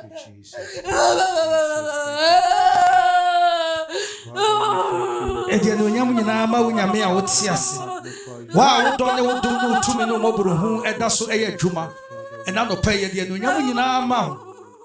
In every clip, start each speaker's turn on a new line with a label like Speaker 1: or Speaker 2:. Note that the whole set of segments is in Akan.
Speaker 1: Thank you, Jesus. Thank you, ɛdeɛ ne onyam nyinaa ma wo nyame a wote ase wo a wodɔ ne wodom ne wotumi ne mmɔborohu ɛda so ɛyɛ adwuma ɛna nɔpɛ yɛdeɛ ne onyam nyinaa ma ho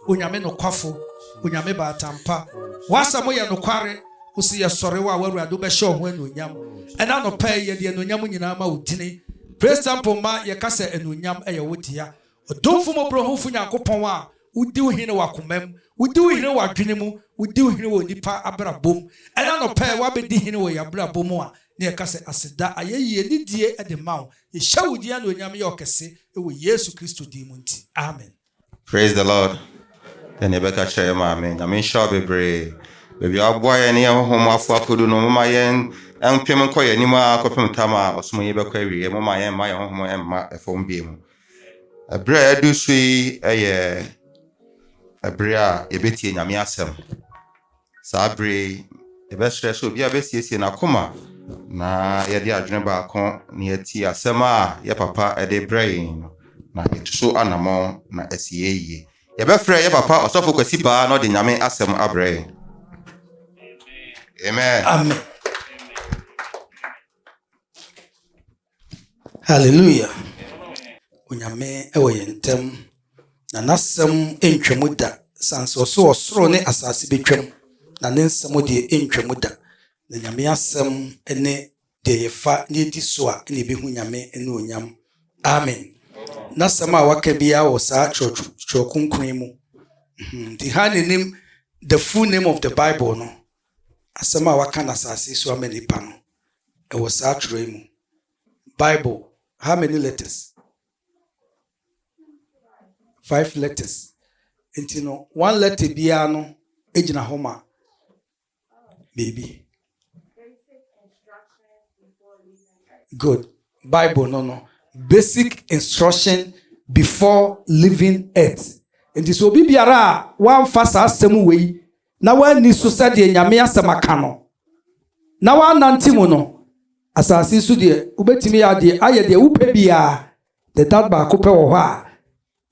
Speaker 1: onyame nokwafo onyame baatampa woasɛm yɛ nokware wo si yɛsɔre wo a woawurade wobɛhyɛ wo ho anuonyam ɛna nɔpɛ yɛdeɛ ne onyam nyinaa ma wo dini praise temple ma yɛka sɛ anuonyam ɛyɛ wo dea Otumfo Mmɔborɔhunufo Nyankopɔn a wudi wo hene w'akomam, wudi wo hene w'adwene mu, wudi wo hene wɔ nnipa abrabɔ mu. Ɛna anɔpa yi w'abedi hene wɔ yɛn abrabɔ mu a, na yɛka sɛ, Aseda, ayɛyi, anidie de ma wo. Yɛhyɛ wo din anuonyam yɛ ɔkɛse wɔ Yesu Kristo din mu nti. Amen. Praise the Lord
Speaker 2: Dɛn na yɛbɛka kyerɛ yɛn maame? Nyame nhyira wo bebree. Baabi a waboa yɛn ne yɛn honhom mu afoa kodu no, momma yɛn mpem nkɔ yɛn anim ara kɔpem tam a ɔsom yi bɛkɔ awieɛ. Momma yɛn mma yɛn honhom mma fam bio mu. Ɛberɛ a yɛadu so yi yɛ ɛberɛ a yɛbɛtie Nyame asɛm. Saa berɛ yi, yɛbɛsrɛ sɛ obiara bɛsiesie n'akoma na yɛde adwene baako na yɛatie asɛm a yɛ papa de brɛ yɛn no, na yɛtu so anammɔn na asi yɛn yie. Yɛbɛfrɛ yɛ papa Ɔsɔfo Kwasi Baa na ɔde Nyame asɛm abrɛ yɛn. Amen. Amen.
Speaker 1: Hallelujah! Onyame wɔ yɛn ntam, na n'asɛm ntwam da. San sɛ ɔsɛ ɔsoro ne asase bɛtwam, na ne nsɛm deɛ ɛntwam da. Na Nyame asɛm ne deɛ yɛfa na yɛdi so a na yɛbɛhu Nyame ne onyam. Amen. N'asɛm a waka biara wɔ saa twerɛ kronkron yi mu. Nti ha na ɛnim the full name of the Bible no. Asɛm a wɔaka no asase so ama nnipa no, ɛwɔ saa twerɛ yi mu. Bible, how many letters? Five letters. Nti no, one letter biara no gyina hɔ ma biribi. Good. Bible no no, basic instruction before living earth. Nti sɛ obi biara a wamfa saa asɛm wei na wɔanni so sɛdeɛ Nyame asɛm aka no, na wɔannante mu no, asase so deɛ wobɛtumi adeɛ ayɛ deɛ wopɛ biara, the that baako pɛ wɔ hɔ a,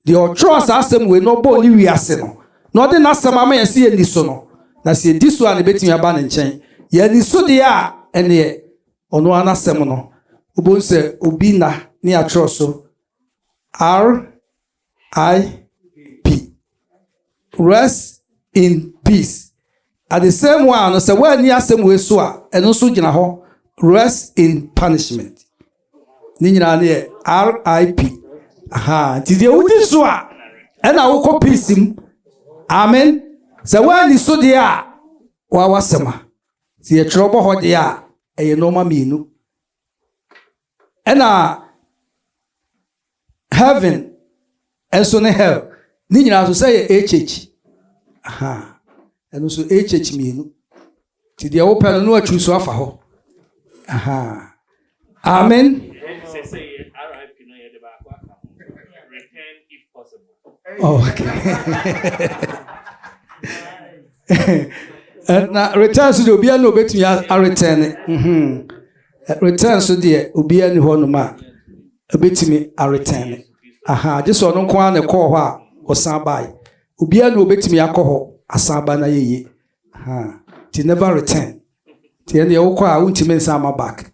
Speaker 1: deɛ ɔtwerɛ saa asɛm wei na ɔbɔɔ ne wiase no, na ɔde n'asɛm ama yɛn sɛ yɛnni so no, na sɛ yɛdi so a na ɛbɛtumi aba ne nkyɛn, yɛanni so deɛ a, ɛneɛ ɔno ara n'asɛm no, wobɛhu sɛ obi nna ne atwerɛ so, R. RIP. Rest in peace. At the same while no, sɛ woanni asɛm wei so a, ɛno nso gyina hɔ. Rest in punishment. Ne nyinaa no yɛ RIP. Aha, nti deɛ wodi so a, ɛna wokɔ peace mu. Amen. Sɛ woanni so deɛ a, woa w'asɛm a. Sɛ yɛtwerɛ bɔ hɔ deɛ a, ɛyɛ nnoɔma mmienu. Ɛna heaven nso ne hell ne nyinaa nso sɛ yɛ HH. Aha. Ɛno nso HH mmienu. Ti deɛ wopɛ no na watwiri so afa hɔ. Aha. Amen. Eh, na return so deɛ obiara na obetumi aretɛn ne mhm. eh, return so deɛ obiara ni hɔ nom a obetumi aretɛn ne aha gye sɛ ɔno nko ara na ɛkɔɔ hɔ a ɔsan bae obiara na obetumi akɔ hɔ asan ba na yɛyie ti never return ti ɛnna ɛwokɔ a wontumi nsan ma back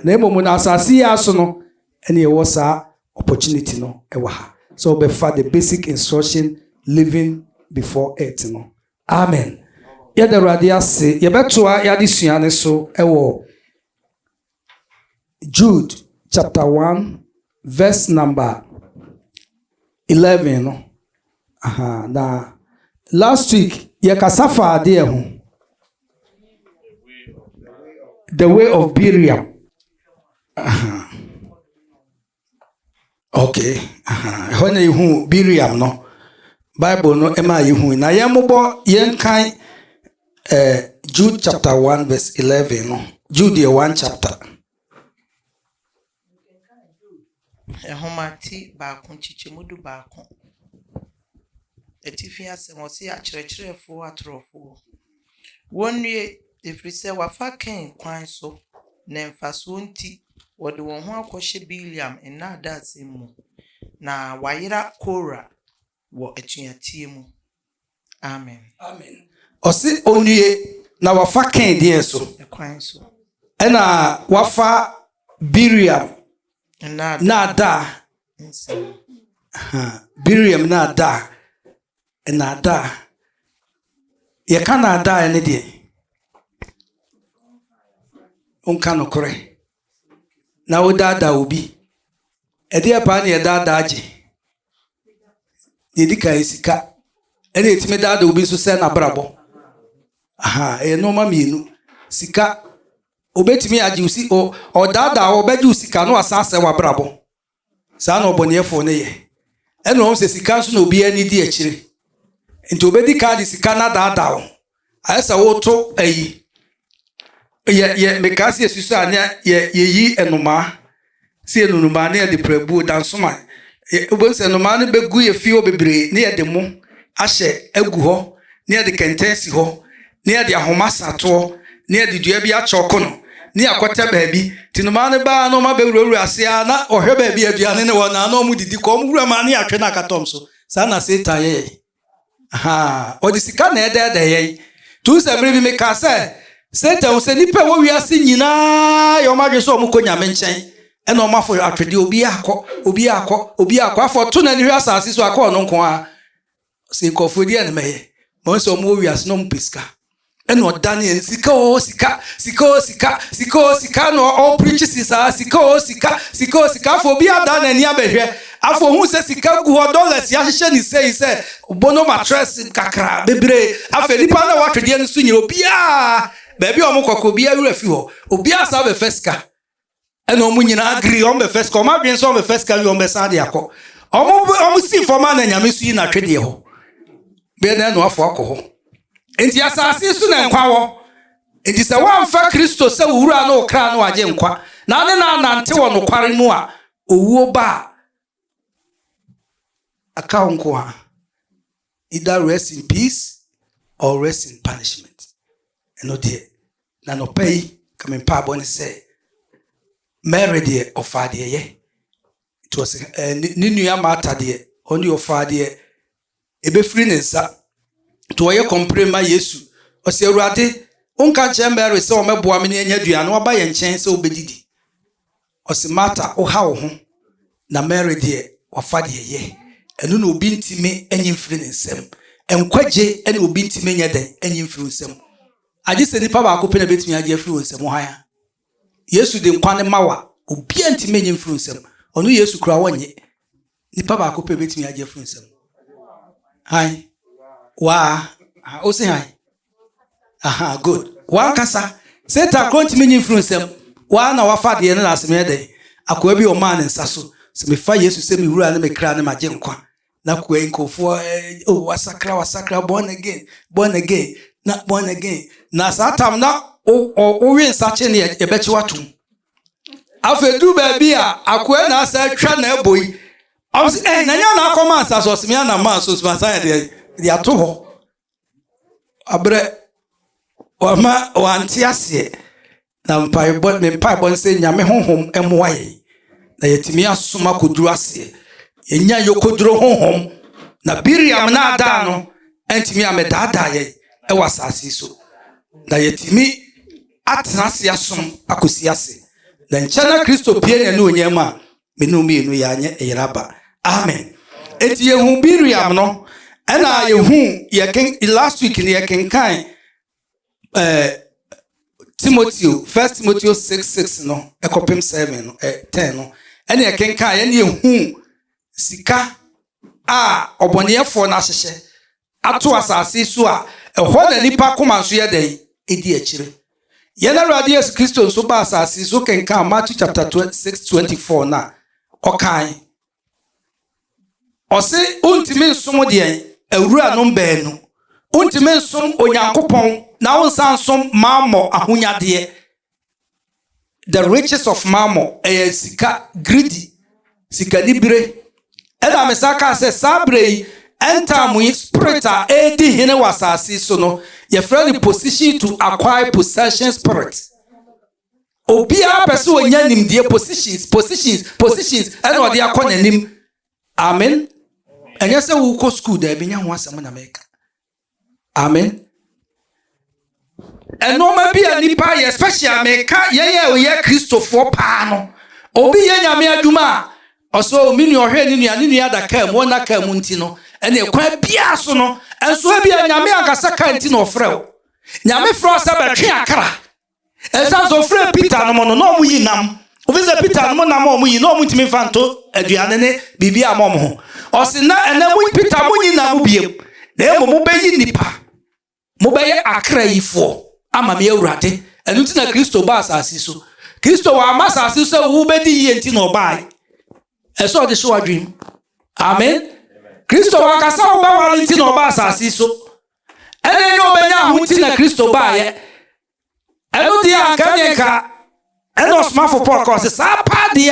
Speaker 1: na mmom na asase yi aso no Ɛna yɛwɔ saa opportunity no wɔ ha sɛ wobɛfa the basic instruction living before it no. Amen. Yɛda Awurade ase. Yɛbɛtoa yɛadesua no so wɔ Jude chapter 1 verse number 11 no. Aha, na last week yɛkasa fa adeɛ ho. The Way of Biriam. Uh-huh. Okay. Uh-huh. Ɛhɔ na yɛhu Biriam no. Bible no ɛma yɛhu. Na yɛn mobɔ yɛn kan eh, Jude chapter 1 verse 11 no. Jude yɛ one chapter.
Speaker 3: Mekenkan Jude nhoma ti baako nkyekyɛmu du baako atifi asɛm, ɔse, Akyerɛkyerɛfoɔ atorɔfoɔ, wɔnnue, ɛfiri sɛ wɔafa Kain kwan so, ne mfasoɔ nti, wɔde wɔn ho akɔhyɛ Bileam nnaadaasɛm mu, na wɔayera Kora. Wɔ atuateɛ mu. Amen.
Speaker 1: Amen.
Speaker 3: Ɔse
Speaker 1: ɔnnue
Speaker 3: na
Speaker 1: wafa Kain deɛn
Speaker 3: so?
Speaker 1: Ɛkwan so. Ɛna wafa Biriam naadaa nsɛm. Biriam naadaa, naadaa. Yɛka naadaa ne deɛn? Wonka nokorɛ. na wodaadaa obi. Ɛdeɛ paa na yɛdaadaa gye. Deɛ ɛdi kan, sika. Ɛna yɛtumi daadaa obi nso sɛ n'abrabɔ. Aha, ɛyɛ nnoɔma mmienu. Sika, obɛtumi agye wo si o ɔdaadaa wo, ɔbɛgye wo sika na wasan asɛe w'abrabɔ. Saa na ɔbɔneɛfoɔ no yɛ. Ɛna ɔhu sɛ sika nso na obiara ani di akyire. Nti obɛdi kan de sika no adaadaa wo. Ayɛ sɛ woto ayi, yɛ, yɛ, mekaa sɛ yɛsusua a na yɛ, yɛyi nnomaa, sɛ yɛnu nnomaa na yɛde prabuo, dansoman, yɛ, wobɛhu sɛ nnomaa no bɛgu yɛ fie hɔ bebree na yɛde mo ahyɛ agu hɔ na yɛde kɛntɛn asi hɔ na yɛde ahoma sa toɔ, na yɛde dua bi akyɔɔko no, na yɛakɔtɛ baabi. Nti nnomaa no baa na wɔabɛwurawura ase ara, na wɔhwɛ baabi a aduane no wɔ no a, na wɔdidi kɔ. Wɔn wura maa ne atwe no akatɔm so. Saa na Satan yɛ yɛn. Ahaa, ɔde sika na ɛdɛɛdɛɛ yɛn. Nti wohu sɛ mmerɛ bi mekaa sɛ, Satan hu sɛ nnipa a ɛwɔ wiase nyinaa yɛ wɔn adwene sɛ wɔkɔ Nyame nkyɛn, ɛna wɔafo atwedeɛ, obiara kɔ, obiara kɔ, obiara kɔ, afei ɔto n'ani hwɛ asase so a, kɔ ɔno nko ara. Ɔsi nkurɔfoɔ ɛdeɛ na mɛyɛ ma wɔn sɛ wɔn wɔ wiase na wɔn pɛ sika ɛna ɔdane yɛn sika o sika sika o sika sika o sika na ɔpirikyi si saa sika o sika sika o sika afɔ obi ada n'ani abɛhwɛ afɔ ohun sɛ sika gu hɔ dɔlas yɛahyehyɛ ne sɛ yi sɛ bono matrɛs kakra bebree afɛ nipa na watwedeɛ no so nyina obiara baabi a wɔn kɔkɔ obiara wura fi hɔ obiara saa bɛfɛ sika ɛna wɔn nyinaa agiri wɔn bɛ fɛs ka wɔn adwene sɛ wɔn bɛ fɛs ka wi wɔn bɛ san de akɔ wɔn bɛ wɔn si fam a na nyame nso yi na atwe deɛ hɔ bɛyɛ na ɛnoafo akɔ hɔ nti asase so na nkwa wɔ nti sɛ wɔamfa kristo sɛ wura no okra no agye nkwa na ne na anante wɔ nokware mu a owuo ba a Aka wo nko a. Either rest in peace or rest in punishment. Ɛno deɛ, na nɔpɛ yi ka me mpaabɔ ne sɛ Mary deɛ ɔfaa deɛ ɛyɛ. Nti ɔsɛ ɛɛ ne nua Martha deɛ ɔno deɛ ɔfaa deɛ ɛbɛfiri ne nsa. Nti wɔyɛ kɔmpere ma Yesu. Ɔse, Awurade, wonka nkyerɛ Mary sɛ ɔmɛboa me ne anya aduan na waba yɛn nkyɛn sɛ ɔbɛdidi? Ɔse, Marta, woha wo ho, na Mary deɛ, wafa deɛ ɛyɛ. Ɛno na obi ntumi nyi mfiri ne nsam. Nkwagye na obi ntumi nyɛ dɛn nyi mfiri wo nsam. Agye sɛ nipa baako pɛ na ɛbɛtumi agye afiri wo nsam. Hwan? Yesu de nkwa no ma wo a, obiara ntumi nnye mfiri nsam. Ɔno Yesu kura wɔnnye. Nipa baako pɛ bɛtumi agye afiri nsam. Han. Waa. O se han. Aha, good. Wankasa. Satan koro ntumi nye mfiri nsam. Waa na wafa deɛ no na asem yɛ dɛn. Akoa bi ɔmaa ne nsa so. Sɛ mefa Yesu sɛ me wura ne me kra ne magye nkwa. na koe nkurɔfoɔ eh, oh, wasakra wasakra born again born again na born again na saa tam na wowe nsakye ne yɛbɛkye watom afei duru baabi a akoa na asa atwa na ɛbɔ yi ɔm sɛ ɛn eh, na nyɛ na akɔma nsa so ɔseme ana ma so soma san yɛde de ato hɔ Wabrɛ, wama wante aseɛ, na mpaebɔ, ne mpaebɔ ne sɛ Nyame honhom mmoa yɛn na yɛatumi asom akɔduru aseɛ. Yɛnya yɔkɔduro honhom na Bileam naadaa no antumi ammɛdaadaa yɛn wɔ asase yi so. Na yɛatumi atena ase asom akɔsi ase. Na nkyɛ na Kristo pue n'anuonyam a Me no mmienu yɛanyɛ yera ba. Amen. Eti yɛhu Miriam no, ɛna yɛhu yɛken last week no yɛkenkan ɛɛ eh, Timoteo, First Timoteo six six no ɛkɔpem seven no ɛ eh, ten no, ɛna yɛkenkan ɛna yɛhu sika a ɔbɔneɛfoɔ no ahyehyɛ ato asase so a, ɛhɔ na nnipa koma nso yɛ dɛn? Ɛdi akyire. Yɛn Awurade Yesu Kristo nso baa asase so kenkan Matthew chapter 6 24 no a, ɔkae. Ɔse wontumi nsom deɛn? Awuranom baanu. Wontumi nsom Onyankopɔn na wonsan nsom mammɔ ahonyadeɛ. The Riches of Mammon, ɛyɛ sika, greedy, sikanibere. Ɛna me san kaa sɛ saa berɛ yi, end time yi spirit a ɛredi hene wɔ asase so no, yɛfrɛ no position to acquire possession spirit. Obiara pɛ sɛ ɔnya nimdeɛ positions, positions, positions, ɛna ɔde akɔ n'anim. Amen. Ɛnyɛ sɛ wokɔ sukuu daabi, nyɛ ho asɛm na meka. Amen. Ɛnoɔma bi a nipa yɛ special a meka yɛn a yɛ kristofoɔ paa no. Obi yɛ nyame adwuma a ɔsɛ o me nua ɔhwɛ ne nua ne nua da kaa mu ɔna kaa mu nti no ɛne kwan biara so no ɛnso ebi a nyame ankasa kaa nti na ɔfrɛ o. Nyame frɛ sɛ bɛtwe akra. Ɛsiane sɛ ɔfrɛɛ Peter nom no, na wɔyi nam. Ofi sɛ Peter nom nam a wɔyi, na wɔntumi mfa nto aduane ne biribi a wɔn ho. Ɔse na ɛnɛ mo Peter monyi nam biam, na mmom mobɛyi nnipa. Mobɛyɛ akra yifoɔ ama me Awurade. Ɛno nti na Kristo baa asase so. Kristo wamma asase so sɛ wobɛdi yie nti na ɔbaeɛ. Ɛsɛ ɔde hyɛ w'adwene mu. Amen. Kristo wankasa wobɛware nti na ɔbaa asase so. ɛne ne ɔbɛnya ho nti na Kristo baeɛ. Ɛno deɛ anka ne nka ɛna ɔsomafo Paul kɔɔ sɛ saa paa deɛ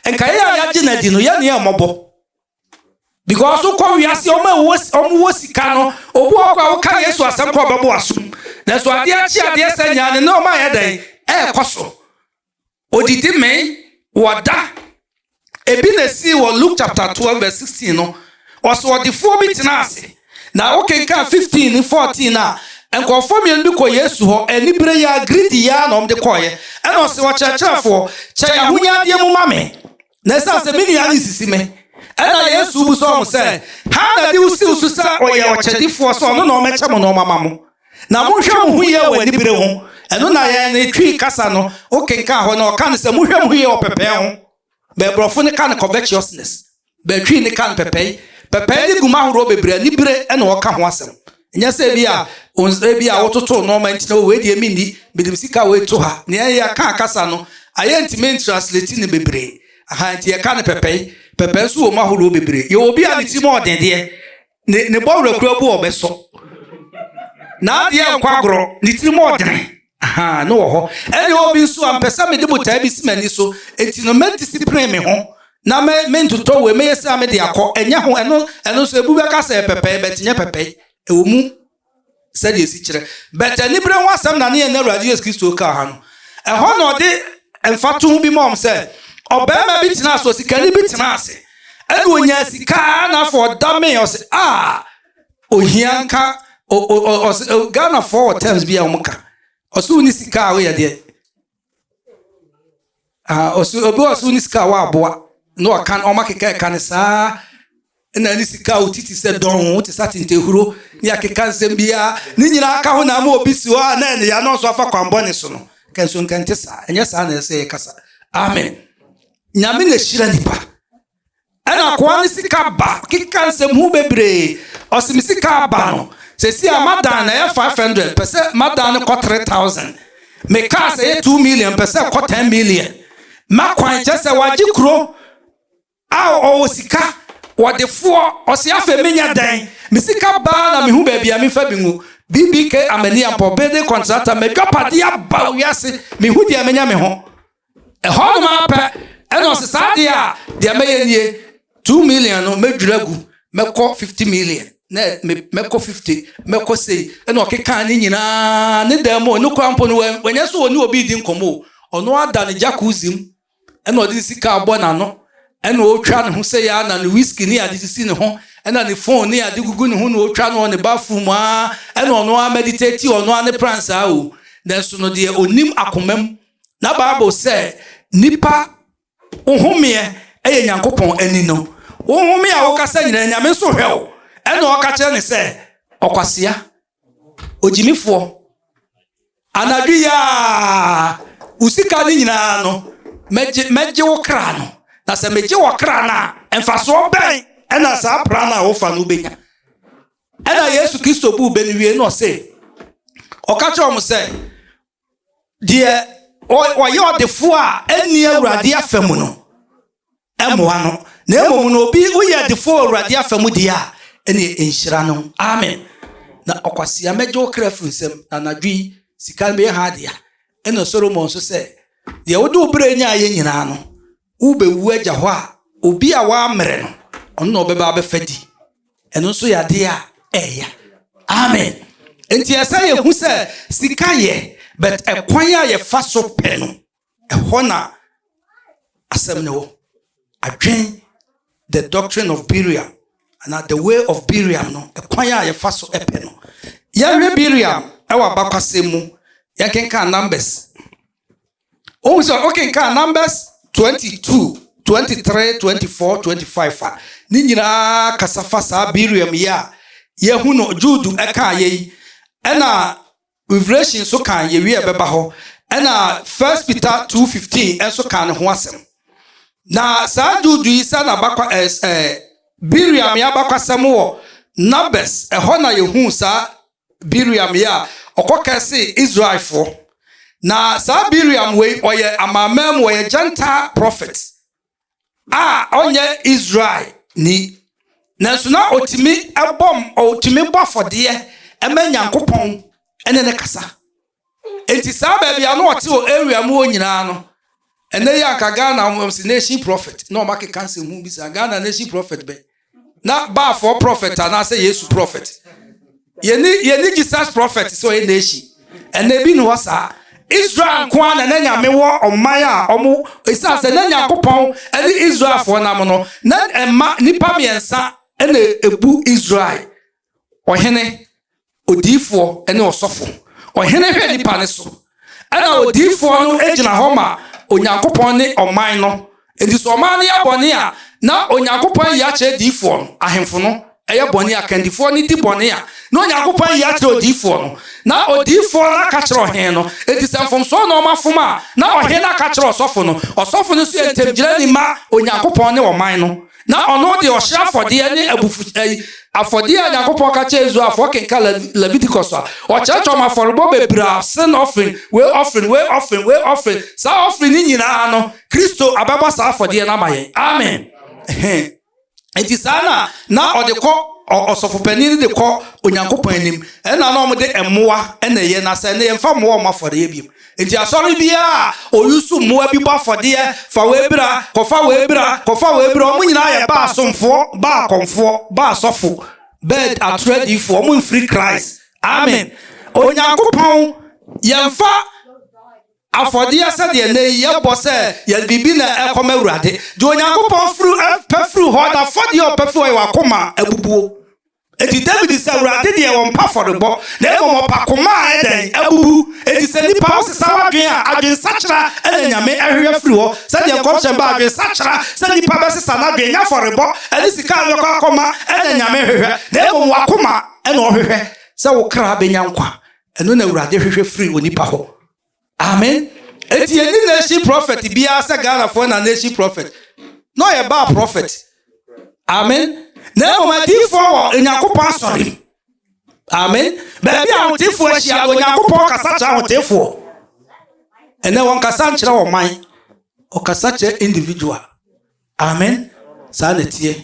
Speaker 1: a nka yɛ a yɛagye no adi no yɛne yɛ mmɔbɔ. Because wokɔ wiase ɔma ɔmo wɔ sika no obi wɔ kɔ a woka Yesu asɛm kɔ ɔbɛbɔ asom. Nanso adeɛ akye adeɛ sɛ nyaa ne ne ɔma yɛ dɛn ɛɛkɔ so. Odidi mee, wɔda. Ebi na esii wɔ Luke chapter twelve verse sixteen no. Ɔsoɔdefoɔ bi tenaa ase, na wokenkan fifteen ne fourteen no a, nkurɔfoɔ mmienu bi kɔɔ Yesu hɔ, anibere yi ara, greedy yi ara na wɔde kɔeɛ. Ɛna ɔse, Ɔkyerɛkyerɛfoɔ, kyɛ yɛn ahonyadeɛ mu ma me. Na ɛsiane sɛ me nua nsisi me, ɛna Yesu busa wɔn sɛ, Hena na ɛde wo si wo so sɛ ɔyɛ ɔkyɛdefoɔ sɛ ɔno na ɔmmɛkyɛ mo nneɛma ma mo? Na monhwɛ mo ho yie wɔ anibere ho. Ɛno na yɛn ne Twi kasa no, wokenkan hɔ no, wɔka no sɛ monhwɛ mo ho yie wɔ pɛpɛe ho. Bɛbrɔfo no ka no covetousness. Bɛtwi no ka no pɛpɛe. Pɛpɛe ne guma ahorow bebree, anibere na wɔka ho asɛm. Nyɛ sɛ ebi a ebi a wototo nneɛma nti na wei deɛ menni mede me sika wei to ha nea ɛyɛ aka akasa no ayɛ nti me ntrasleti no bebree aha nti yɛka no pɛpɛe pɛpɛe nso wɔ mu ahodoɔ bebree yɛwɔ obi a ne tirim ɔden deɛ ne ne bɔwerɛ kura bu ɔbɛsɔ n'adeɛ nkɔ agorɔ ne tirim ɔdene Ahaa, no wɔ hɔ. Ɛne obi nso a, mpɛ sɛ mede botae bi si m'ani so, enti no mɛdisipline me ho, na me, mentotɔ wei, mɛyɛ sei a mede akɔ. Ɛnyɛ ho, ɛno, ɛno nso, ebu bɛka sɛ ɛyɛ pɛpɛe, but nyɛ pɛpɛe. Ɛwɔ mu sɛdeɛ ɛsi kyerɛ, but aniberɛ ho asɛm na ne yɛn Awurade Yesu Kristo kaa ha no. Ɛhɔ na ɔde mfatoho bi maa wɔn sɛ, ɔbarima bi tenaa ase, osikani bi tenaa ase, ɛna ɔnyaa sika, na afei ɔdamee, ɔse, Ah! ohia nka ɔsɛ ghanafoɔ wɔ terms bi a wɔn ka ɔsɛ wɔn ni sika a wɔyɛ deɛ ɔsɛ obi ɔsɛ wɔn ni sika a wɔaboa na ɔka wɔn akeka ɛka ne saa na ne sika a wɔtiti sɛ dɔn wɔn te sɛ atentehuro ne akeka nsɛm biara ne nyinaa aka ho na ama obi si hɔ a na ɛne ya na ɔso afa kwan bɔ ne so no kɛnso nkɛnte saa ɛnyɛ saa na ɛsɛ yɛ kasa amen nyame na ehyira nipa. Ɛna akoa no sika ba keka nsɛm ho bebree ɔse me sika aba no sɛsi a madan no ɛyɛ 500 pɛ sɛ madan no kɔ 3000 me kaa sɛ ɛyɛ 2 million pɛ sɛ kɔ 10 million ma kwan kyɛ sɛ wagye kuro a ɔwɔ sika wɔde foɔ ɔse afei menyɛ dɛn me sika baa na mehu baabi a mefa bi ngu BBK Amania Mpɔ building contractor madwapadeɛ aba wiase mehu deɛ menya me ho Ɛhɔnom ara pɛ na ɔse saa deɛ a deɛ mɛyɛ nie, two million no mɛdwiri agu, mɛkɔ fifty million, na mɛkɔ fifty, mɛkɔ sei. Ɛna ɔkekaa ne nyinaa ne dan mu, ɔno koraa mpo no wanyɛ sɛ ɔne obi redi nkɔmmɔ o, ɔno ara da ne jacuzzi mu ɛna ɔde ne sika abɔ n'ano, ɛna ɔretwa ne ho sɛ yɛ ara na ne whisky ne ade sisi ne ho, ɛna ne phone ne ade gugu ne ho na ɔretwa no wɔ ne bathroom mu ara, ɛna ɔno ara meditate, ɔno ara ne pransa o, nanso no deɛ ɔnim akoma mu. Na bible sɛ nipa wo homeɛ ɛyɛ nyankopɔn ani no wo home a woka sɛ nyina nyame nso hwɛ wo ɛna ɔka kyerɛ ne sɛ ɔkwasea ogyimifoɔ anadwo yi a wo sika no nyinaa no mɛgye mɛgye wo kra no na sɛ megye wɔ kra no a mfasoɔ bɛn ɛna saa pra no a wofa no wobɛnya ɛna yesu kristo bu bɛ no wie na ɔse ɔka kyerɛ wɔn sɛ deɛ ɔyɛ ɔdefoɔ a ɛnni awurade afa mu no mmoa no na mmom no obi woyɛ ɔdefoɔ wɔ awurade afa mu deɛ a ɛne nhyira no amen na ɔkwasea mɛgye wo kra firi nsɛm na anadwo yi sika no bɛyɛ ha adea ɛna solomon nso sɛ deɛ wode wo berɛ nya ayɛ nyinaa no worebɛwu agya hɔ a, obi a wɔammrɛ no, ɔno na ɔbɛba abɛfa di. Ɛno nso yɛ adeɛ a ɛya. Amen. Nti ɛsɛ yɛhu sɛ sika yɛ, but ɛkwan a yɛfa so pɛ no, ɛhɔ na asɛm no wɔ. Adwen the doctrine of Biriam anaa the way of Biriam no, ɛkwan a yɛfa so pɛ no. Yɛhwɛ Biriam ɛwɔ abakwasɛm mu, yɛnkenkan Numbers. Wohu sɛ wokenkan Numbers 22, 23, 24, 25 a, ne nyinaa kasa fa saa Biriam yi a yɛahu no, Jude ɛkaa yɛ yi, ɛna Revelation nso kan yɛwie ɛbɛba hɔ, ɛna First Peter 2:15 nso kan ne ho asɛm. Na saa Jude yi sɛ na bakwa ɛɛ ɛɛ Biriam yɛ abakwasɛm wɔ Numbers, ɛhɔ na yɛhu saa Bileam yɛ a ɔkɔ kɛse Israelfoɔ na saa Bileam wei ɔyɛ amanaman mu ɔyɛ Gentile prophet a ɔnyɛ Israel ni nanso na ɔtumi bɔ ɔtumi bɔ afɔdeɛ ɛma Nyankopɔn ɛne ne kasa Enti saa baabi a na ɔte wɔ area mu hɔ nyinaa no, ɛnɛ yi anka Ghana wɔn si nation prophet na wɔn akeka nsɛm ho bi saa Ghana nation prophet bɛn na baafoɔ prophet anaasɛ Yesu prophet yɛni yɛni Jesus prophet sɛ ɔyɛ nation ɛnɛ bi ni hɔ saa Israel nko ara na na nyame wɔ ɔman a ɔmo esan sɛ na nyankopɔn ɛne Israelfoɔ nam no na ɛma nipa mmiɛnsa ɛna ebu Israel ɔhene, odiyifoɔ ne ɔsɔfo. Ɔhene hwɛ nnipa no so, ɛna odiyifoɔ no gyina hɔ ma Onyankopɔn ne ɔman no. Enti sɛ ɔman no yɛ bɔne a, na Onyankopɔn ayi akyerɛ diyifoɔ no, ahemfo no ɛyɛ bɔne a, kandifoɔ no di bɔne a, na Onyankopɔn ayi akyerɛ odiyifoɔ no, na odiyifoɔ no aka kyerɛ ɔhene no. Enti sɛ mfomsoɔ na wɔafom a, na ɔhene no aka kyerɛ ɔsɔfo no. Ɔsɔfo no nso yɛ ntamgyinani ma Onyankopɔn ne ɔman no. na ɔno de ɔhyeɛ afɔdeɛ ne abufu ɛyi afɔdeɛ a Nyankopɔn ka kyerɛ Israelfoɔ kenka Leviticus a ɔkyerɛkyerɛ wɔn afɔrebɔ bebree a sin offering wei offering wei offering wei offering saa offering ne nyinaa no Kristo abɛbɔ saa afɔdeɛ no ama yɛn amen nti saa na na ɔde kɔ ɔsɔfopanin no de kɔ Onyankopɔn anim ɛna na wɔn de mmoa ɛna ɛyɛ na sɛ ne yɛn fa mmoa wɔn afɔdeɛ biem Enti asɔre biara a oyi so mmoa bi bɔ afɔdeɛ, fa w'abira, kɔfa w'abira, kɔfa w'abira, wɔn nyinaa yɛ Baal somfoɔ, Baal kɔmfoɔ, Baal sɔfo, Bed atoro adiyifoɔ, wɔn mfiri Christ. Amen. Onyankopɔn, yɛmfa afɔdeɛ sɛdeɛ nnɛ yi yɛbɔ sɛ yɛde biribi na ɛkɔma Awurade. Deɛ Onyankopɔn firi pɛ firi hɔ, n'afɔdeɛ a ɔpɛ firi hɔ yɛ w'akoma abubuo. Enti Dawid se Awurade deɛ ɔmpɛ afɔrebɔ, na mmom ɔpa koma a ɛdɛn? Abubu. Enti sɛ nnipa wosesa w'adwene a, adwensakyera na Nyame ɛhwehwɛ afiri hɔ, sɛdeɛ nkɔmhyɛ no ba, adwensakyera, sɛ nnipa bɛsesa n'adwene, nyɛ afɔrebɔ ne sika a ɔbɛkɔ akɔma na Nyame hwehwɛ, na mmom w'akoma na ɔhwehwɛ, sɛ wo kra bɛnya nkwa, ɛno na Awurade hwehwɛ firi onipa hɔ. Amen enti yɛ ni nation prophet biara sɛ Ghana foɔ na nation prophet na ɔyɛ baa prophet amen na mmom adiifoɔ wɔ Onyankopɔn asɔre amen baabi a ahotefoɔ ahyia Onyankopɔn kasa kyerɛ ahotefoɔ ɛnɛ wɔn kasa nkyerɛ wɔn man ɔkasa kyerɛ individual amen saa na ɛteɛ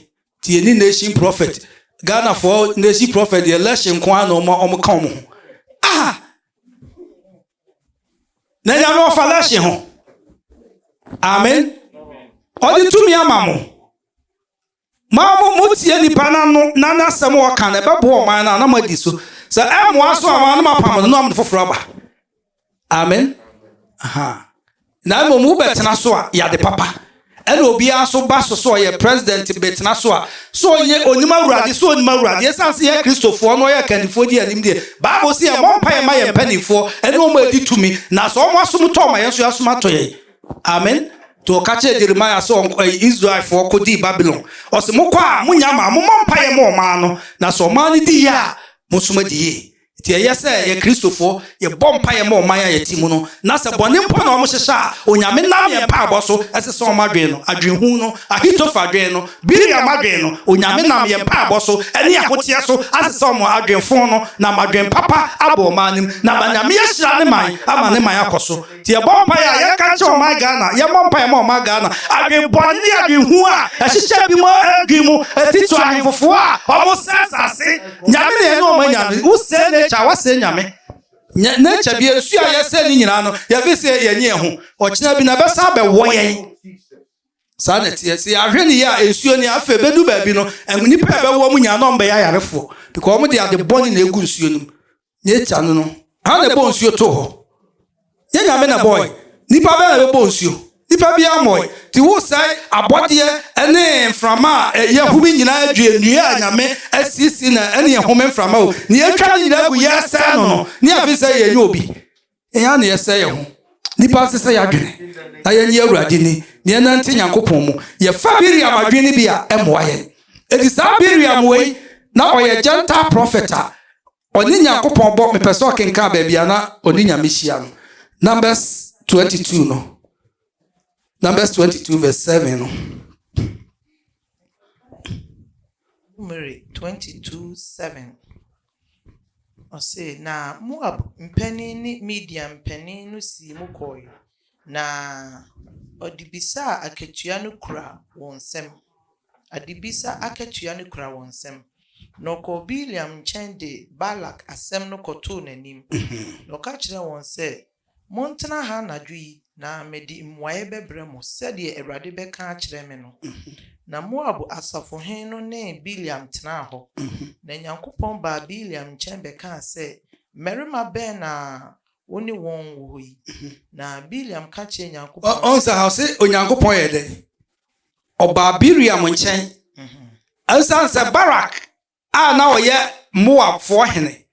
Speaker 1: Nti yɛnni nation prophet. Ghanafoɔ nation prophet deɛ election nko ara na wɔn wɔn ka wɔn ho. Aha! Na nyame ɔfa election ho. Amen. Ɔde tumi ama mo. Ma mo mo tie nipa n'ano na n'asɛm a ɔka na ɛbɛboa ɔman no a na mo adi so. Sɛ ɛmmoa so a wɔn ano apam no na wɔn foforɔ aba. Amen. Aha. Na mmom wobɛtena so a yade papa. Ɛna obiara nso ba so sɛ ɔyɛ president bɛtena so a sɛ ɔnyɛ onim awurade sɛ onim awurade ɛsan sɛ yɛ kristofoɔ na ɔyɛ kandifoɔ di anim deɛ Bible sɛ yɛ mɔ mpa yɛ ma yɛ mpanimfoɔ ɛne ɔmo adi tumi na sɛ ɔmo asom tɔ ɔma yɛn nso yɛasom atɔ yɛn. Amen. To ɔka kyerɛ Jeremiah sɛ ɔnkɔ eh, Israelfoɔ kɔdii Babylon. Ɔse mokɔ a monya ma mommɔ mpaeɛ ma ɔmaa no, na sɛ ɔmaa no di yie a, monsom adi yie. Enti ɛyɛ sɛ yɛn Kristofo yɛbɔ mpaeɛ ma ɔman a yɛte mu no, na sɛ bɔne mpo na wɔhyehyɛ a, Onyame nam yɛn mpaebɔ so sesa wɔn adwene no. Adwenhunu no, Ahitofel adwene no, Bileam adwene no, Onyame nam yɛn mpaebɔ so ne ahoteɛ so asesa wɔn adwenfo no, nam adwen papa abɔ wɔn anim, na ama Nyame ahyira ne man ama ne man akɔ so. Nti yɛbɔ mpaeɛ a yɛka kyerɛ ɔman Ghana, yɛmmɔ mpaeɛ ma ɔman Ghana. Adwen bɔne ne adwen hunu a ɛhyehyɛ bi mu adwen mu ɛti to ahenfofoɔ a ɔmo sɛe asase. Nyame na yɛne ɔmo anya no. Wo sɛe nature a wasɛe Nyame. Nyɛ nature bi ɛsu a yɛsɛe no nyinaa no yɛfeel sɛ yɛnye yɛn ho. Ɔkyena bi no ɛbɛsan abɛwɔ yɛn. Saa na ɛteɛ. Sɛ yɛanhwɛ no yie a nsuo ni. Afei ɛbɛdu baabi no nnipa a ɛbɛwɔ ɔmo nyinaa na ɔmo bɛyɛ ayarefoɔ. Because ɔmo de ade bɔne na egu nsuo no mu. Nature no no, hena na ɛbɔɔ nsuo too hɔ? Nyɛ Nyame na ɛbɔɔe. Nnipa bɛn na bɛbɔɔ nsuo? Nnipa biara ammɔɔe. Nti woresɛe abɔdeɛ ne mframa a ɛyɛ home nyinaa adwie, nnua a Nyame asiesie na ɛne ɛhome mframa o, nea atwa ne nyinaa agu yɛresɛe no no, ne afei sɛ yɛnyɛ obi. Yɛn ara na yɛsɛe yɛn ho. Nnipa nsesa yɛn adwene na yɛnni Awurade ni, na yɛnnante Nyankopɔn mu. Yɛfa Miriam adwene no bi a, ɛmmoa yɛn. Enti saa Miriam wei, na ɔyɛ Gentile prɔfɛt a ɔne Nyankopɔn bɔ, mepɛ sɛ ɔkenkan baabi a na ɔne Nyame hyia no, Numbers 22 no, Numbers 22 verse 7 no. Numeri
Speaker 3: 22 7. Ɔse, Na Moab mpanin ne Midian mpanin no sii mu kɔɔe, na ɔde bisa a akatua no kura wɔn nsam, adebisa akatua no kura wɔn nsam, na ɔkɔɔ Bileam nkyɛn de Balak asɛm no kɔtoo n'anim, na ɔka kyerɛɛ wɔn sɛ, Montena ha anadwo yi, na mede mmuaeɛ bɛbrɛ mo, sɛdeɛ Awurade bɛka akyerɛ me no. Na Moab asafohene no ne Bileam tenaa hɔ. Na Nyankopɔn baa Bileam nkyɛn bɛkaa sɛ, Mmarima bɛn na wo ne wɔn wɔ hɔ yi? Na Bileam ka kyerɛɛ Nyankopɔn sɛ. Ɔhu sɛ ha, ɔse
Speaker 1: Onyankopɔn yɛɛ dɛn? Ɔbaa Bileam nkyɛn. Esiane sɛ Barak a na ɔyɛ Moabfoɔ hene.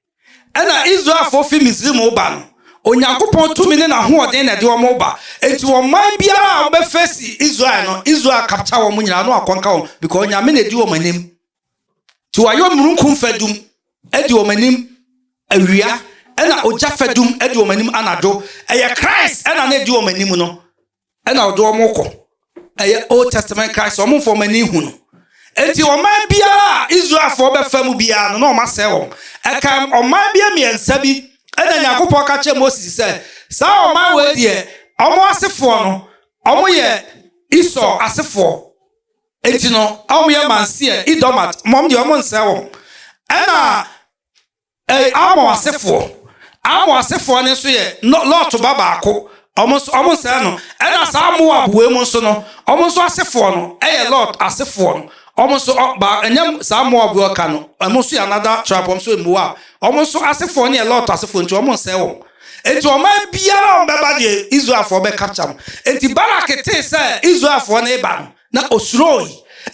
Speaker 1: Ɛnna Israelfoɔ fi Misraim reba no, Onyankopɔn tumi ne n'ahoɔden na ɛde wɔn reba. Enti ɔman biara a wɔbɛfeesi Israel no, Israel capture wɔn nyinaa na wɔakɔnka wɔn because Onyame na ɛdi wɔn anim. Nti wɔayɛ omununkum fadum ɛdi wɔn anim awia, ɛna ogya fadum ɛdi wɔn anim anadwo. Ɛyɛ Christ ɛna na ɛdi wɔn anim no. na ɔde wɔn rekɔ. Ɛyɛ Old Testament Christ, wɔn mfa wɔn ani nhu no. Enti ɔman biara a Israelfoɔ bɛfa mu biara no, na wɔasɛe wɔn. Ɛka ɔman bi mmiɛnsa bi na Nyankopɔn ka kyerɛ Moses sɛ, saa ɔman wei deɛ, wɔn asefoɔ no, wɔyɛ Esau asefoɔ. Enti no, wɔyɛ Manseɛ, Idomat, wɔn deɛ wɔnsɛe wɔn. Ɛna Ɛy, Amon asefoɔ, Amon asefoɔ no nso yɛ Lo, Lot ba baako, wɔn nso, wɔn nsɛe no, ɛna saa Moab wei mu nso no, wɔn nso asefoɔ no yɛ Lot asefoɔ no, wɔn nso, ɔ, ba, ɛnyɛ saa Moab wei ɔka no, wɔn nso yɛ another tribe, wɔn nso yɛ Moab, wɔn nso asefoɔ no yɛ Lot asefoɔ, nti wɔn nsɛe wɔn. Enti ɔman biara a wɔbɛba deɛ Israelfoɔ bɛkapkya no. Enti Balak tee sɛ Israelfoɔ no reba no, Na osuroe,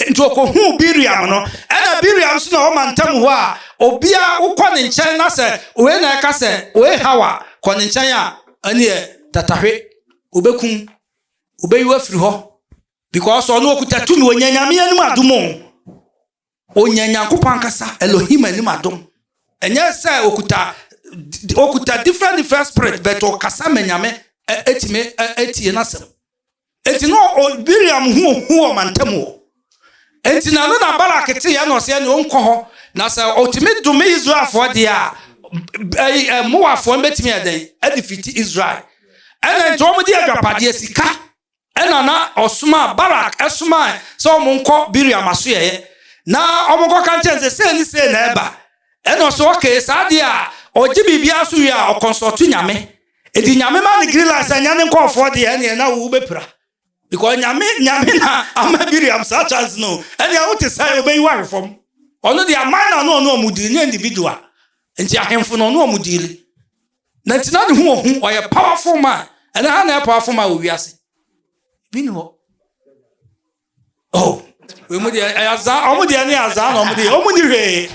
Speaker 1: enti okohuu Bileam no. Ɛnna Bileam nso na ɔwɔ mantam hɔ a obiara a wokɔ ne nkyɛn na sɛ wei na ɛka sɛ wei haw a, kɔ ne nkyɛn a, ɛnneɛ tatahwe, obekum, obeyi wo afiri hɔ because ɔno okuta tumi, onya Nyame anim adom o. Ɔnya Nyankopɔn ankasa, Elohim anim adom. Ɛnyɛ sɛ ɔkuta ɔkuta different different spirit but ɔkasa ma Nyame ɛtumi ɛtie n'asɛm. Eti no Miriam hu hu wɔ mantam wɔ. Eti na no na Balak te yɛ na ɔsɛ ɛne ɔnkɔ hɔ na sɛ ɔtumi dome Israelfoɔ deɛ a Moabfoɔ no bɛtumi ɛdɛn ɛde fiti Israel. Ɛna nti wɔn de adwapadeɛ sika Ɛnna na ɔsomaa Barak somae sɛ wɔnkɔ Bileam asoɛeɛ na wɔnkɔka nkyerɛ no sɛ sei ne sei na ɛreba. Ɛnna ɔse, Okay, saa deɛ a, ɔgye biribiara so wie a, ɔkɔnsɔɔto Nyame. Enti Nyame ma no green light sɛ nyɛ ne nkɔɔfoɔ deɛ ɛnneɛ na wo bɛpira. Because Nyame Nyame na ama Bileam saa chance no. Ɛnneɛ wo te sɛn, ɔbɛyi wo ahwe fam. Ɔno deɛ aman na na ɔne wɔn deal, nyɛ individual. Enti ahemfo na ɔne wɔn deal. na nti na ne ho ohu ɔyɛ powerful man ɛnɛ ha na ɛyɛ powerful man wɔ wiase bi ni hɔ oh wɔn mu deɛ ɛyɛ azaa wɔn deɛ ne azaa na wɔn deɛ wɔn ni hwee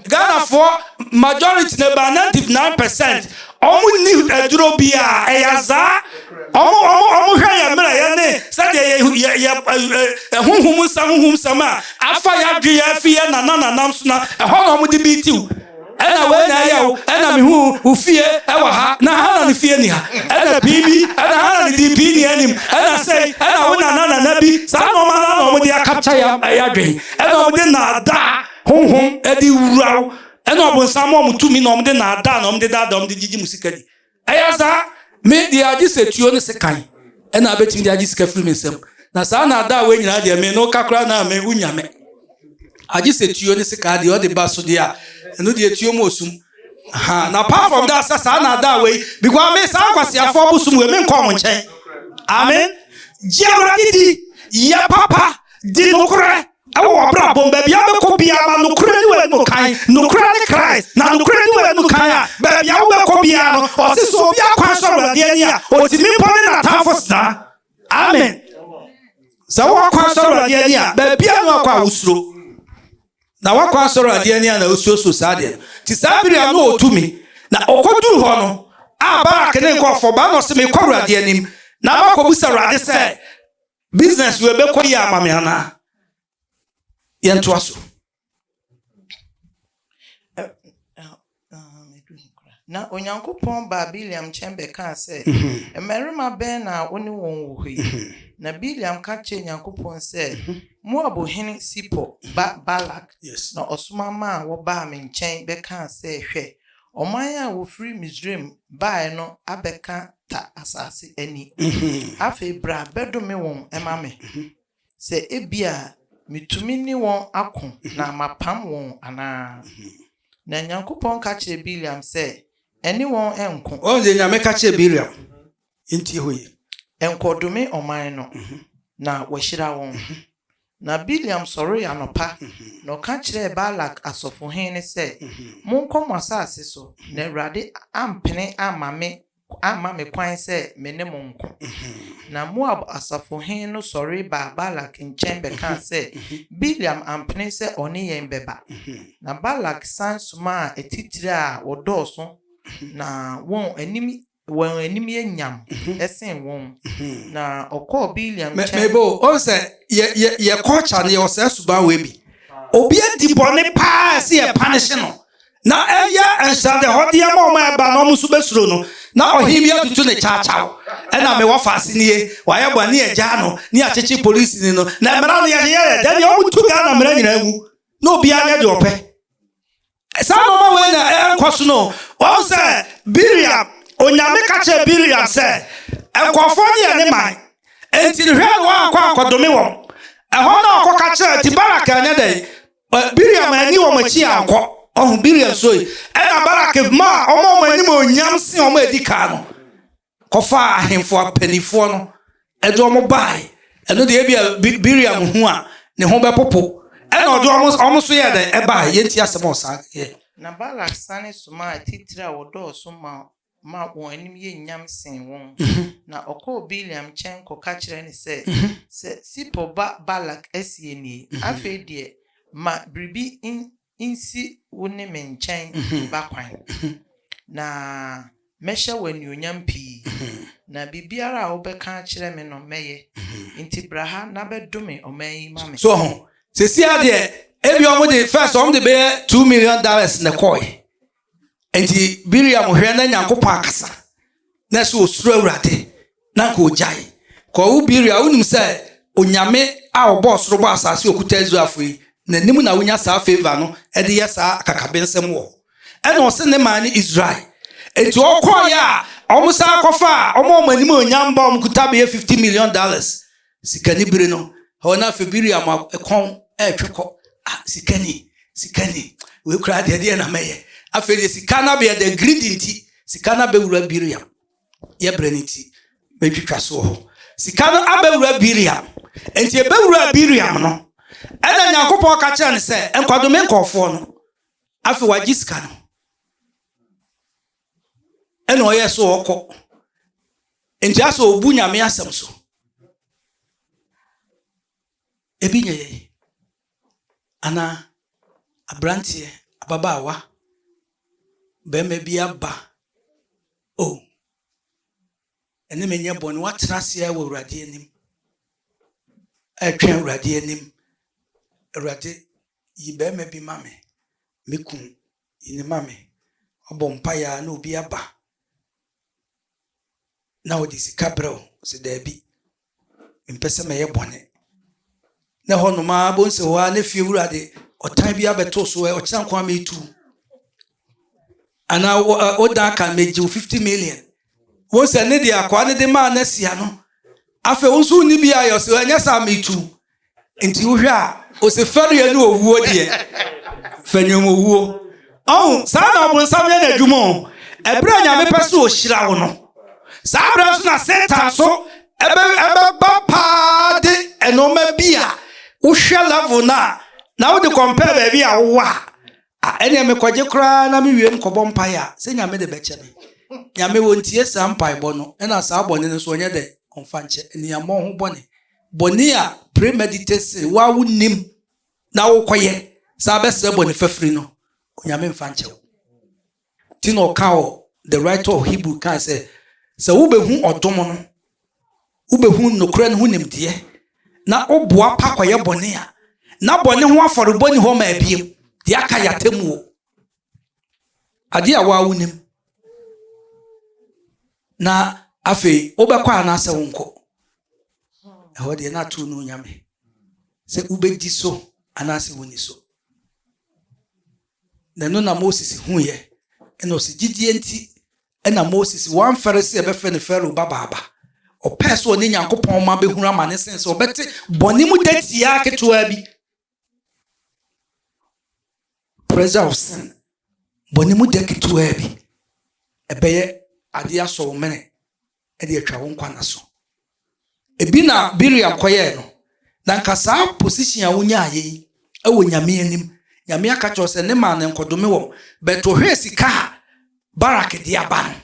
Speaker 1: ghanafoɔ majority na ba ninety nine percent wɔn ni aduro bi a ɛyɛ azaa wɔn wɔn wɔn hwɛ yɛn mmerɛ yɛn ne sɛdeɛ yɛ yɛ yɛ ɛhuhum nsɛm huhum nsɛm a afa yɛ adwe yɛ afi yɛ nana nanam so na ɛhɔ na wɔn de bi tiw. Ɛna wei na ɛyɛ wo, ɛna mehuu wo fie wɔ ha, na Hana no fie nni ha. Ɛna pii bi, ɛna Hana no dii pii nea anim, ɛna sei, ɛna wo nana nana bi, saa nnoɔma no ara na wɔde akapkya yɛ adwen, ɛna wɔde nnaadaa honhom de wura wo, ɛna ɔbonsam ma wɔn tumi na wɔde nnaadaa na wɔde daadaa wɔn de gyegye mo sika di. Ɛyɛ saa, me deɛ agye sɛ tuo ne sekan ɛna abɛtumi de agye sika firi me nsam. Na saa na adaa wei nyinaa deɛ me no ka koraa na me wonya me. Agye sɛ tuo ne sekaa deɛ ɔde ba so deɛ a, ɛno deɛ tuo mu osum. Ha, na apart from that sɛ saa na adaa wei, because me saa nkwasiafoɔ bosom wei me nkɔ ɔmo nkyɛn. Amen. Gye awurade di, yɛ papa, di nokorɛ. Ɛwɔ w'abrabɔ mu, baabi a wobɛkɔ biara, ma nokorɛ ne w'anim kan. Nokorɛ ne Christ, na nokorɛ di w'anim kan a, baabi a wobɛkɔ biara no, ɔse sɛ obi akwan sɔ Awurade ani a, otumi mpo ne n'atamfo sena. Amen. Sɛ w'akwan sɔ Awurade ani a, baabi a na wakɔ a wosuro. Na w'akwan sɔ Awurade ani a na wosuro so saa deɛ no. Ti saa bere a na otumi, na ɔkɔduru hɔ no, a Barak ne nkurɔfoɔ ba na ɔse mekɔ Awurade anim, na makɔbusa Awurade sɛ, Business wei bɛkɔ yie ama me anaa? Yɛntoa so.
Speaker 3: Na Onyankopɔn baa Bileam nkyɛn bɛkaa sɛ, mhm. Mmarima bɛn na wo ne wɔn wɔ hɔ yi? Mhm. Na Bileam ka kyerɛɛ Onyankopɔn sɛ, mhm. Moab hene Sipor ba Balak na ɔsoma maa wɔbaa me nkyɛn bɛkaa sɛ, Hwɛ, Ɔman a wɔfiri Misraim baeɛ no abɛka ta asase ani. Afei bra bɛdome wɔn ma me, sɛ ebia metumi ne wɔn ako na mapam wɔn anaa. Na Nyankopɔn ka kyerɛɛ Bileam sɛ, Ɛne wɔn nko. Woahu deɛ Nyame ka kyerɛɛ
Speaker 1: Bileam? Yɛntie hɔ yie. Nkɔdome
Speaker 3: ɔman no, na wahyira wɔn. Na Bileam sɔree anɔpa, na ɔka kyerɛɛ Balak asɔfohen no sɛ, Monkɔ mo asase so, na Awurade ampene amma me amma me kwan sɛ me ne mo nko. Na Moab asafohen no sɔre baa Balak nkyɛn bɛkaa sɛ, Bileam ampene sɛ ɔne yɛn bɛba. Na Balak san somaa atitire a wɔdɔɔso na wɔn anim Wɔn anim yɛ nyam sen wɔn. Na ɔkɔɔ Bileam nkyɛn. Mɛ mɛbɔ o, ɔn sɛ
Speaker 1: yɛ yɛ yɛ culture no yɛ wɔ saa suban wɔ ebi. Obi adi bɔne paa a ɛsɛ yɛ panish no, na ɛyɛ nhyɛdehɔdeɛ ama wɔn a ɛba na wɔn nso bɛsuro no, na ɔhene bi atutu ne kyaakyaw. Ɛna mɛ wɔfa ase nie, wɔayɛ bɔne ne yɛgyaa no, ne yɛakyekye polisi ni no, na mmara no yɛde yɛyɛ dɛ deɛ wɔn tu Ghana mmara nyinaa mu, na obiara nyɛ deɛ ɔpɛ. Saa nnoɔma wei na ɛrekɔ so no, wahu sɛ Bileam, Onyame ka kyerɛɛ Bileam sɛ, Nkurɔfoɔ no yɛ ne man, enti hwɛ na woankɔ ankɔdome wɔn. Ɛhɔ na ɔkɔka kyerɛɛ, enti Balak anyɛ dɛn? Bileam anni wɔn akyi ankɔ. Ɔho, Bileam suroe. Ɛna Balak maa ɔma wɔn animuonyam sen wɔn a ɛdi kan no. kɔfaa ahemfo apannifoɔ no de wɔn baeɛ. Ɛno deɛ ebia Bileam hu a, ne ho bɛpopo. Ɛna ɔde wɔn wɔn nso yɛɛ dɛn? Ɛbaeɛ. Yɛntie asɛm a ɔsan yɛɛ. Na Balak sane
Speaker 3: somaa atitire a wɔdɔɔso ma ma wɔn anim yɛ nyam sen wɔn, na ɔkɔɔ Bileam nkyɛn kɔka kyerɛɛ no sɛ, Sɛ Sipor ba Balak asie nie, afei deɛ ma biribi nsi wo ne me nkyɛn ba kwan, na mɛhyɛ wo anuonyam pii, na biribiara a wobɛka akyerɛ me no, mɛyɛ. Enti bra ha na bɛdome ɔman yi ma me. So ho? Seesei
Speaker 1: ara deɛ, ebia wɔde, first wɔde bɛyɛ two million dollars na ɛkɔe. Enti Miriam hwɛ na Nyankopɔn akasa, na ɛsɛ osuro Awurade, na anka ogyae. Kɔɔ wo Miriam, wonim sɛ Onyame a ɔbɔɔ soro bɔɔ asase okuta Israelfo yi, n'anim na wonya saa favour no de yɛ saa akakabensɛm wɔ. Ɛna ɔse ne man ne Israel. Enti ɔkɔɔeɛ a, wɔsan kɔfaa wɔn a wɔn animuonyam bɔ wɔn kuta bɛyɛ 50 million dollars Sika ni bere no hɔ na afei biri ama kɔn ɛretwe kɔ ah sika ni sika ni wei koraa deɛ deɛ na mɛyɛ afei deɛ sika no abɛyɛ deɛ greedy nti sika no abɛwura biriam yɛ berɛ no nti mɛtwitwa so wɔ hɔ sika no abɛwura biriam nti ɛbɛwura biriam no ɛna nyankopɔn ka kyerɛ no sɛ nkwadome nkɔɔfoɔ no afei wagye sika no ɛna ɔyɛ so ɔkɔ nti asɛ ɔbu nyame asɛm so ebi nyɛ yɛn anaa aberanteɛ ababaawa bɛrima bi aba o oh. ɛne menyɛ bɔne woatena aseɛ wɔ awurade anim ɛtwɛn awurade anim awurade yi bɛrima bi ma me me kun Yi no ma me. Ɔbɔ mpaeɛ ara na obi aba na ɔde sika brɛ wo. Ɔse daabi, mempɛ sɛ mɛyɛ bɔne. Na ɛhɔ nom ara, bohu sɛ hɔ ara na fie wura de ɔtan bi abɛto so, ɛ, ɔkyena nko ara metu wo. Anaa wo, ɛ, wodan aka no, megye wo 50 million. Wohu sɛ ne deɛ akwaa no de maa no asia no, afei wo nso wonni bi ayɛ, ɔse ɛnyɛ saa metu wo. nti wohwɛ a ɔsi fɛdeɛ ne owuo deɛ fɛnyom owuo ɔho saa na ɔbonsam yɛ no adwuma o ɛberɛ a nyame pɛ so ɔhyira wo no saa berɛ nso na satan so ɛbɛba paa de ɛnoɔma bi a wohwɛ level no a na wode kɔmpɛ baabi a wowa a ɛneɛ mekɔgye koraa na mewie mekɔbɔ mpaeɛ a sɛ nyame de bɛkyɛ me nyame wɔntie saa mpaebɔ no ɛna saa bɔne no so ɔnyɛ dɛ ɔmfa nkyɛ ɛniammɔ ho bɔne bɔne a premeditate sin wo a wonnim na wokɔyɛ saa bɛsrɛ bɔne fafiri no, Onyame mfa nkyɛ wo. Nti na ɔka wɔ the writer of Hebrew kan sɛ sɛ wobɛhu ɔdom no, wobɛhu nokorɛ no ho nimdeɛ na woboa pa kɔyɛ bɔne a, na bɔne ho afɔrebɔ ni hɔ ma abiem, deɛ aka yɛ atemmuo. Adeɛ a wo ara wonim na afei wobɛkɔ anaasɛ wonkɔ. Ɛhɔ deɛ na ato no onyame sɛ wobɛdi so anaasɛ wonni so. Na ɛno na Moses huiɛ ɛna ɔsi gyidie nti ɛna Moses wamfɛre sɛ ɛbɛfɛ ne Farao babaaba. Ɔpɛɛ sɛ ɔne Nyankopɔn ma bɛhunu amane sen sɛ ɔbɛte bɔne mu datia ketewa bi Pressure of sin. Bɔ ne mu gya ketewaa bi. Ɛbɛyɛ adeɛ asɔ wo mene ɛde atwa wo nkwa na so. Ebi na Biriam kɔyɛɛ no. Na nka saa position a wonyaayɛ yi ɛwɔ Nyame anim. Nyame aka kyerɛ sɛ ne maa no nkɔdome wɔn. Bɛto hwɛɛ sika a Barak de aba no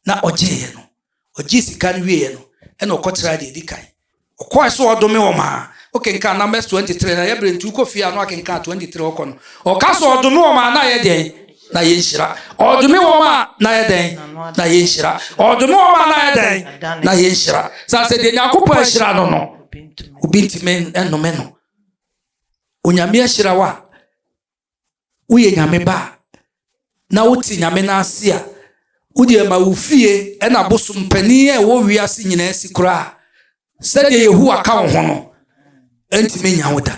Speaker 1: na ɔgyeeɛ no. Ɔgyee sika no wieeɛ no, ɛna ɔkɔtraa deɛ ɛdi kan. Ɔkɔɔɛ so ɔɔdome wɔn aa. Wo kenkan Numbers 23 no a, yɛ berɛ nti wo kɔ fie a na woakenkan 23 ɔkɔ no. Ɔka sɛ ɔɔdome wɔn aa na ayɛ dɛn? Na ayɛ nhyira. Ɔɔdome wɔn aa na ayɛ dɛn? Na ayɛ nhyira. Ɔɔdome wɔn aa na ayɛ dɛn? Na ayɛ nhyira. Saa sɛ deɛ Nyankopɔn ahyira no no, obi ntimi nnome no. Onyame ahyira wo a, woyɛ Nyame ba a, na wote Nyame no ase a, wodeɛ ma wo fie na bosom panin a ɛwɔ wiase nyinaa si koraa sɛdeɛ Yehowa ka wo ho no ntumi nya wo da.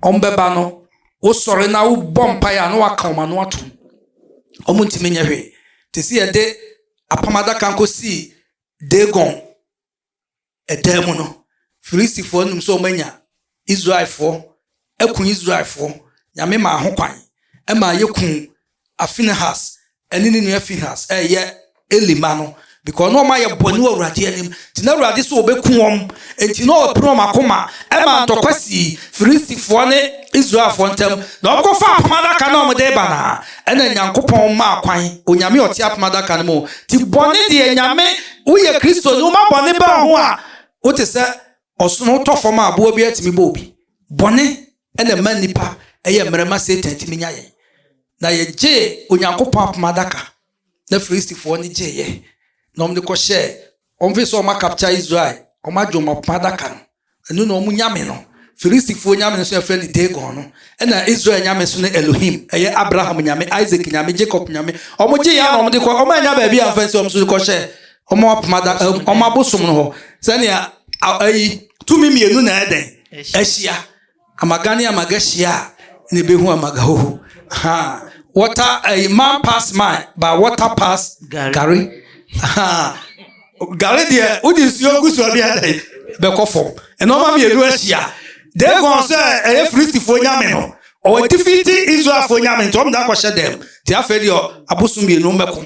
Speaker 1: Ɔmbɛba no, wosɔre na wobɔ mpaeɛ a na waka wɔn ano atom. Wɔn ntumi nyɛ hwee. Te sɛ yɛde apam adaka nkɔsii Dagon Ɛdaa mu no, Filistifoɔ no nim sɛ wɔanya Israelfoɔ aku Israelfoɔ. Nyame maa ho kwan ma yɛkuu Afinehas ne ne nua Finehas a ɛyɛ Eli ma no because na wɔayɛ bɔne wɔ Awurade anim. Nti na Awurade sɛ ɔbɛku wɔn. Nti na ɔpene wɔn akoma ma ntɔkwa sii Filistifoɔ ne Israelfoɔ ntam. Na wɔkɔfa apam adaka na wɔde ba no a, ɛna Nyankopɔn maa kwan, Onyame ɔte apam adaka no mu. Nti bɔne deɛ Nyame woyɛ Kristoni, woma bɔne ba wo ho a, wote sɛ ɔsono, wotɔ fam a aboa biara tumi bɔ obi. Bɔne na ɛma nnipa yɛ mmerɛ ma Satan tumi nya yɛn. Na yɛgyee Onyankopɔn apam adaka na Filistifoɔ no gyeeɛ na wɔde kɔhyɛɛ wɔn firi sɛ wɔn akapkya Israel, wɔn agye wɔn apam adaka no. Ɛno na wɔn nyame no. Filistifoɔ nyame nso a yɛfrɛ no Dagon no, ɛna Israel nyame nso ne Elohim. Ɛyɛ Abraham nyame, Isak nyame, Jacob nyame. Wɔgye yɛn na wɔde kɔ, wɔannya baabi a amfa nsi wɔn nso de kɔhyɛ wɔn apam ada, wɔn abosom no hɔ. Sɛnea ayi tumi mmienu na ɛdɛn ahyia. Amaga ne amaga hyia a na ebehu amaga hoho. Ahaa. Water ɛyi man pass man but water pass gari. Ahaa. Gari deɛ wodi nsuo gu so a bi a dɛ bɛkɔ fam. Nneɛma mmienu ahyia. Dagon sɛ ɛyɛ Filistifoɔ nyame no, ɔwɔ defeat Israelfoɔ nyame nti wɔn nyinaa kɔhyɛ dɛm. Nti afei deɛ abosom mmienu mmɛko.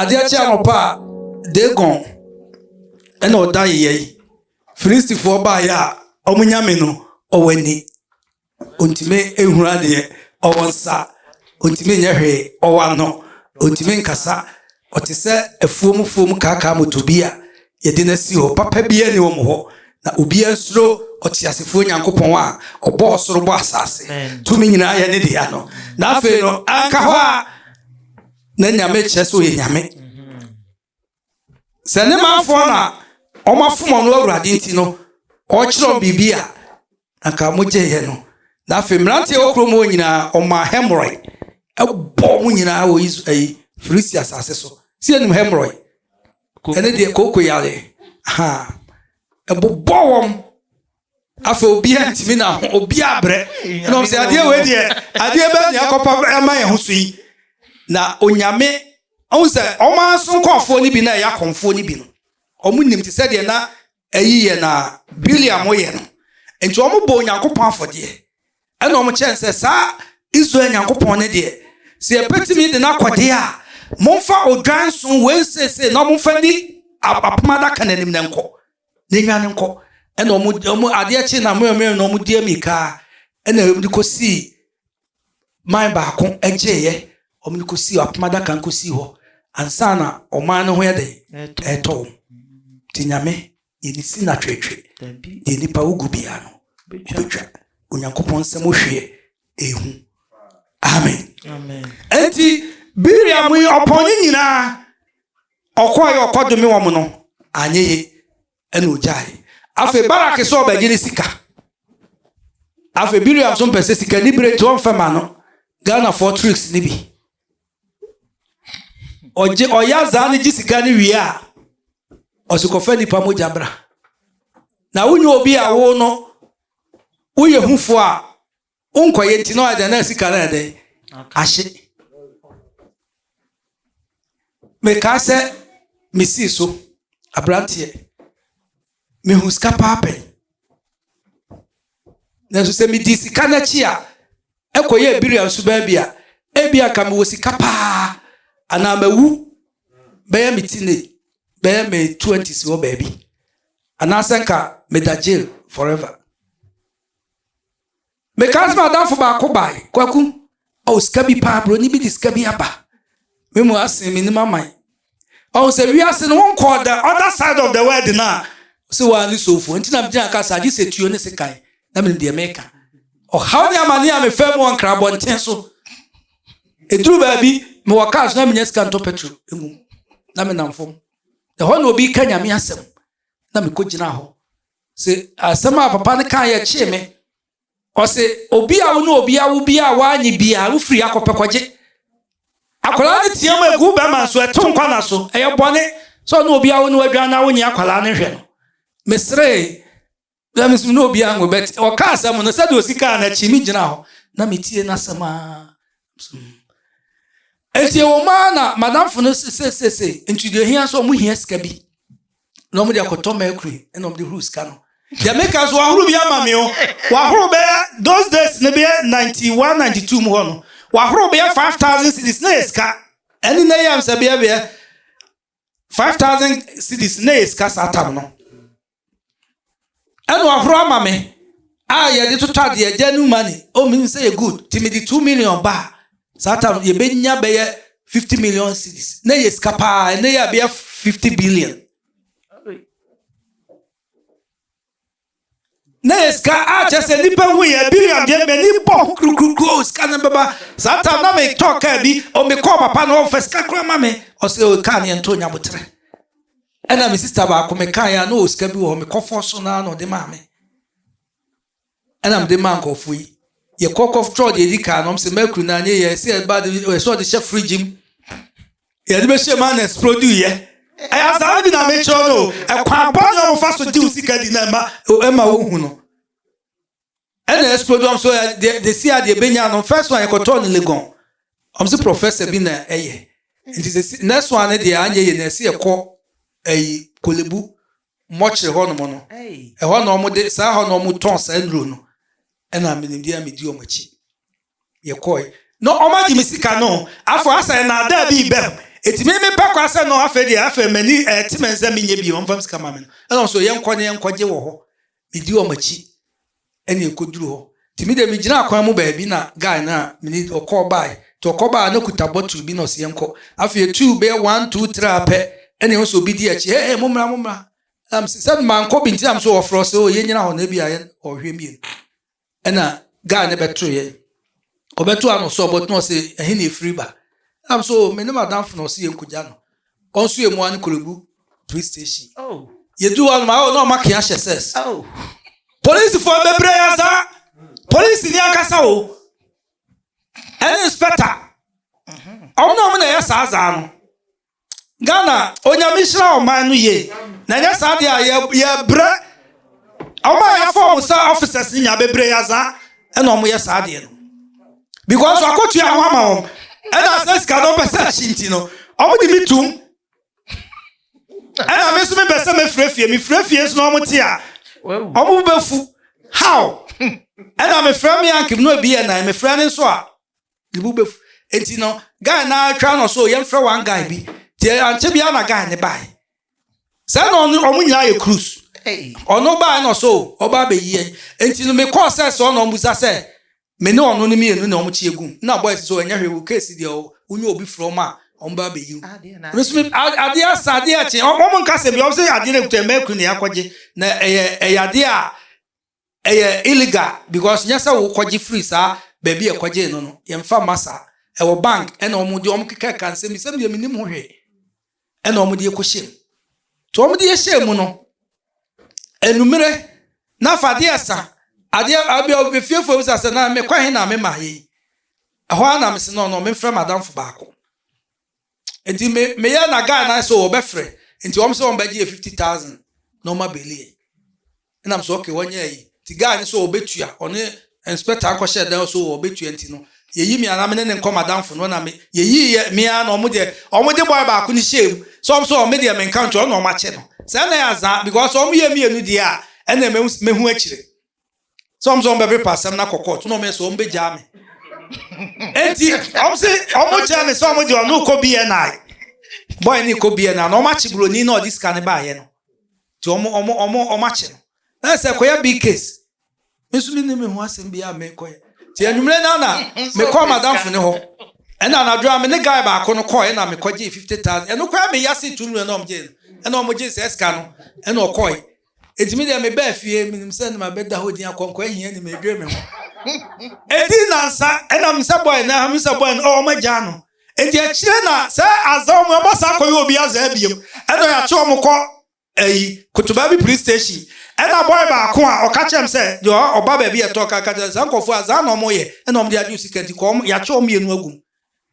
Speaker 1: Adeɛ kye anɔpa a, Dagon na ɔda yeyɛ yi. Filistifoɔ baeɛ a, wɔn nyame no, ɔwɔ ani. Ɔntumi nhunu adeɛ, ɔwɔ nsa, ɔntumi nyɛ hwee, ɔwɔ ano, ɔntumi nkasa. Ɔte sɛ afuom fuom kaakaa moto bi a yɛde no asi hɔ. Papa biara ni wɔn hɔ. Na obiara nsuro ɔteasefoɔ Nyankopɔn a ɔbɔ ɔsoro bɔ asase. Tumi nyinaa yɛ ne dea no. Na afei no, anka hɔ a. na nyame kyerɛ sɛ ɔyɛ nyame sɛ ne manfoɔ na ɔmafom ɔno awurade nti no ɔkyerɛ wɔn biribi a anka mogyeeɛ no na afei mmeranteɛ wɔ kurom hɔ nyinaa ɔmaa hɛmorɔe ɛbɔ mo nyinaa wɔ Is- ɛyi filisti asase so sɛ yɛnim hɛmorɔe ɛne deɛ kooko yareɛ ha ɛbobɔ wɔn afei obiara ntumi na ho obiara brɛ ɛna ɔm sɛ adeɛ wei deɛ adeɛ bɛɛ ne akɔpa ɛma yɛn ho so yi na onyame ɔhu sɛ ɔma nso nkɔɔfoɔ no bi na ɛyɛ akɔmfoɔ no bi no ɔmo nim te sɛ deɛ na ɛyi yɛ na biliam yɛ no nti ɔmo bɔ onyankopɔn afɔdeɛ ɛna ɔmo kyɛn sɛ saa israel nyankopɔn no deɛ sɛ yɛbɛtumi de no akɔdeɛ a momfa odwan so wei sese na ɔmomfa ni apoma adaka no anim na nkɔ yɛnnwane nkɔ ɛna wɔn wɔn adeɛ kye na mmerɛ mmerɛ na wɔn di mmirika ɛna wɔn de kɔ sii man baako ɛgyeeɛ wɔn de kɔ sii apoma adaka kɔ sii hɔ ansa na ɔman no ho yɛ dɛ ɛtɔ wɔn te nyame yɛ ne si na twetwe deɛ nipa wogu biara no wobɛtwa onyankopɔn nsɛm wohweɛ ehu amen ɛnti biriam yi ɔpɔn ne nyinaa Ɔkɔe ɔkɔdome wɔn no, anyɛ ye ɛna ogyae. Afei Barak sɛ ɔbɛgye ne sika. Afei Biream nso mpɛ sɛ sika ni bere nti ɔmfɛ ma no. Ghanafoɔ tricks no bi. Ɔgye ɔyɛ azaa no gye sika no wie a, ɔse kɔfa nnipa mogya bra. Na wonyɛ obi a wo no woyɛ hufoɔ a wonkɔ yɛ nti na ɔyɛ dɛn na sika no yɛ dɛn ahye mekaa sɛ mesii so aberanteɛ mehu sika paa pɛn nanso sɛ medi sika no akyi a ɛkɔyɛ biria nso baabi a ebi a nka mewɔ sika paa anaa mawu bɛyɛ me tine bɛyɛ me 20s wɔ baabi anaasɛ nka meda jail forever Mekaa sɛ madamfo baako bae, Kwaku, ɔwɔ sika bi paa, buroni bi de sika bi aba. Me mu asen me nim aman. Ɔwɔ sɛ wiase no wonkɔɔ the other side of the world no a, sɛ wɔa ne sofo. Nti na megyina ka saa, gye sɛ tuo ne sekan, na menim deɛ meka. Ɔhaw ne amane a mefa mu wɔ nkra abɔnten so. Ɛduru baabi, mewɔ kaa so na menya sika ntɔ petro mu, na menam fam. Ɛhɔ na obi ka nyame asɛm, na mekɔgyina hɔ. sɛ asɛm a papa no kaa yɛ kyee me ɔsɛ obi a wo ne obi awo bi a woanye bi a wofiri akɔpɛ kɔgye akwadaa no teɛ mu egu bɛrima nso ɛto nkwa na so ɛyɛ bɔne sɛ ɔne obi awo ne wadwan na wonye akwadaa no nhwɛ no meseree na mesu ne obi anwo bɛt ɔka asɛm no sɛdeɛ osi kaa no akyi me gyina hɔ na metie n'asɛm a ɛnti ɛwɔ mu a na madamfo no sesesese nti deɛ hia nso ɔmo hia sika bi na wɔn de akɔtɔ mercury na wɔn de huru sika no deɛ meka so wahoro bi ama me o wahoro bɛyɛ those days ne bɛyɛ ninety one ninety two mu hɔ no wahoro bɛyɛ five thousand cities na yɛ sika ɛne na yɛ amsɛ bɛyɛ bɛyɛ five thousand cities na yɛ sika saa tam no. Ɛna ɔhoro ama me a yɛde totɔ adeɛ agya new money oh menim sɛ yɛ good nti mede two million ba a saa tam yɛbɛnya bɛyɛ fifty million cities na yɛ sika paa ɛnɛ yɛ bɛyɛ fifty billion na yɛ sika a kyɛ sɛ nnipa hu yɛ billion deɛ m'ani bɔ ho kurukuru sika no bɛba saa tam na metɔ kaa bi ɔmekɔɔ papa na ɔmfa sika kora ma me ɔsɛ kaa ne ɛnto nya boterɛ Ɛna me sista baako me kan ya na ɔwɔ sika bi wɔ hɔ me kɔfɔ so na na ɔde maa me ɛna mede maa nkurɔfoɔ yi yɛkɔ kɔtɔ deɛ ɛdi kan na ɔm sɛ mercury na anyɛ yɛ ɛsɛ ɛba de ɛsɛ ɔde hyɛ fridge mu yɛde bɛhyɛ mu ana ɛsplodi yɛ ɛyɛ asaa bi na mekyerɛ no ɛkwan bɔ ne ɔmfa so gye wo sika di na ɛma ɛma wohu no Ɛna Ɛspodɔm nso ɛ deɛ deɛ si a deɛ bɛnya no first one yɛkɔtɔɔ no Legon wɔn se professor bi na ɛyɛ nti sɛ si next one no deɛ anyɛ yie no ɛse yɛkɔ ɛyi Kolebu mɔkyere hɔ nom no ɛhɔ na wɔn de saa hɔ na wɔn tɔn saa nnuro no ɛna menim deɛ medi wɔn akyi. yɛkɔe. No wɔagye me sika no afɔ asɛ nnaadaa bi reba mu enti me mepɛ kɔ asɛ no afei deɛ afei m'ani ɛte me nsɛ menyɛ bio wɔmfa me sika ma me no ɛna wɔso yɛnkɔ ne yɛnkɔgye wɔ hɔ medi wɔn akyi ɛne ɛkɔduru hɔ nti me deɛ megyina akwan mu baabi na guy no a mene ɔkɔɔ bae nti ɔkɔ baa no kuta bottle bi na ɔsɛ yɛnkɔ afei ɛtuu bɛyɛ one two three apɛ ɛne wɔso obi di akyi hey mo mmra mo mmra na mese sɛ mankɔ bi nti na mso wɔfrɛ sɛ o yɛnyina hɔ na ebi a yɛn ɔhwɛ mmienu ɛna guy no bɛto yɛ ɔbɛto ano sɛ ɔbɛto na ɔsɛ ɛhe na efiri ba ɛnam so oh, me ne madamfo na ɔsɛ yɛn kogya no ɔnso yɛ mua ne kolebu police station oh. yɛdu hɔ anoma oh, na ɔma kea hyɛ sɛs oh. polisifoɔ bɛbrɛ yɛ saa polisi ni ankasa o ɛne inspector ɔmo na ɔmo na ɛyɛ saa zaa no Ghana, Onyame nhyira ɔman no yie na ɛnyɛ saa deɛ a yɛbrɛ ɔma a yɛafɔ ɔmo sɛ officers no nyinaa bebree yɛ azaa ɛna ɔmo yɛ saa deɛ no because wakɔtua ho ama wɔn ɛna asɛ sika no ɔpɛ sɛ akyi nti no ɔmo de me tum ɛna me nso mepɛ sɛ mefrɛ fie mefrɛ fie nso na ɔmo te a ɔmo bɛfu how ɛna mefrɛ me ankem no ebi yɛ nan mefrɛ ne nso a ne bo bɛfu nti no guy no atwa no so yɛmfrɛ one guy bi nti ankyɛ biara na guy no bae sɛ na ɔno ɔmo nyinaa yɛ cruise ɔno bae na ɔsɛ o ɔba abɛyi yɛn nti no mekɔɔ sɛ sɛ ɔna ɔmbusa sɛ me ne ɔno no mmienu na ɔmo kyi egu na boys so ɛnyɛ hwee wo case deɛ wonyɛ obi frɛ ɔmo a ɔmo ba abɛyi wo adeɛ asa adeɛ akye ɔmo nka sɛ bi ɔmo sɛ adeɛ no ekuta mɛkuru na yɛakɔgye na ɛyɛ ɛyɛ adeɛ a Ɛyɛ illegal because nyɛ sɛ wokɔgye firi saa baabi a ɛkɔgyee no no, yɛmfa mma saa. Ɛwɔ bank ɛna wɔn de wɔn keka ka nsɛm bi sɛm deɛ menim ho hwee ɛna wɔn de ɛkɔhyɛ mu. To wɔn de ɛhyɛ mu no, enumere na afa adeɛ ɛsa adeɛ abia obefiefo ebisa sɛ na mekɔ he na mema yɛ yi. Ɛhɔ ara na mese no no memfrɛ m'adamfo baako. nti me meyɛ na guy na so wɔbɛfrɛ nti wɔn sɛ wɔn bɛgye fifty thousand na wɔn abeli yɛ ɛnam so okay wɔnyɛ ayi nti guy no so wɔbɛtua ɔne inspector akɔhyɛ dan so wɔbɛtua nti no yɛyi me anam ne ne nkɔ madamfo no na me yɛyi yɛ mmea na wɔn deɛ wɔn de boy baako ne hyɛ mu so wɔn so wɔn deɛ menka nkyɛn wɔn na wɔn akyɛ no sɛ ɛna yɛ azaa because wɔn yɛ mmienu deɛ a ɛna mehu akyire sɛ ɔmo sɛ ɔmo bɛpepa asɛm no akɔ kɔɔto na ɔmo yɛ sɛ ɔmo bɛgyaa me enti ɔmo se ɔmo kyerɛ me sɛ ɔmo de ɔno kɔ bni bɔe ne kɔ bni na ɔmo akye buroni na ɔde sika no baayɛ no nti ɔmo ɔmo ɔmo ɔmo akye no na sɛ kɔyɛ big case me nso menni me ho asɛm biara mekɔyɛ nti anwummerɛ no na mekɔɔ madamfo ne hɔ ɛna anadwo a me ne guy baako no kɔɔ ɛna mekɔgyee fifty thousand ɛno koraa meyɛ ase tu mmerɛ na ɔmo gyee no ɛna ɔmo gyee sɛ sika no ɛna ɔkɔɔe Enti me deɛ mebaa fie, menim sɛ na mabɛda hɔ din akɔnkɔ ahia ni medwere me ho. Enti nansa ɛna me sɛ bɔe na me sɛ bɔe no ɔwɔ magyaa no. Enti akyire na sɛ azaa ɔmo ɔmo asan akɔyɛ obi azaa biom ɛna ɔyɛ akye ɔmo kɔ ɛyi kotobaa bi police station ɛna bɔe baako a ɔka kyerɛ me sɛ deɛ ɔba baabi ɛtɔ ka ka kyerɛ saa nkɔfoɔ azaa na ɔmo yɛ ɛna ɔmo de agye osika nti kɔ ɔmo yakye ɔmo mienu agum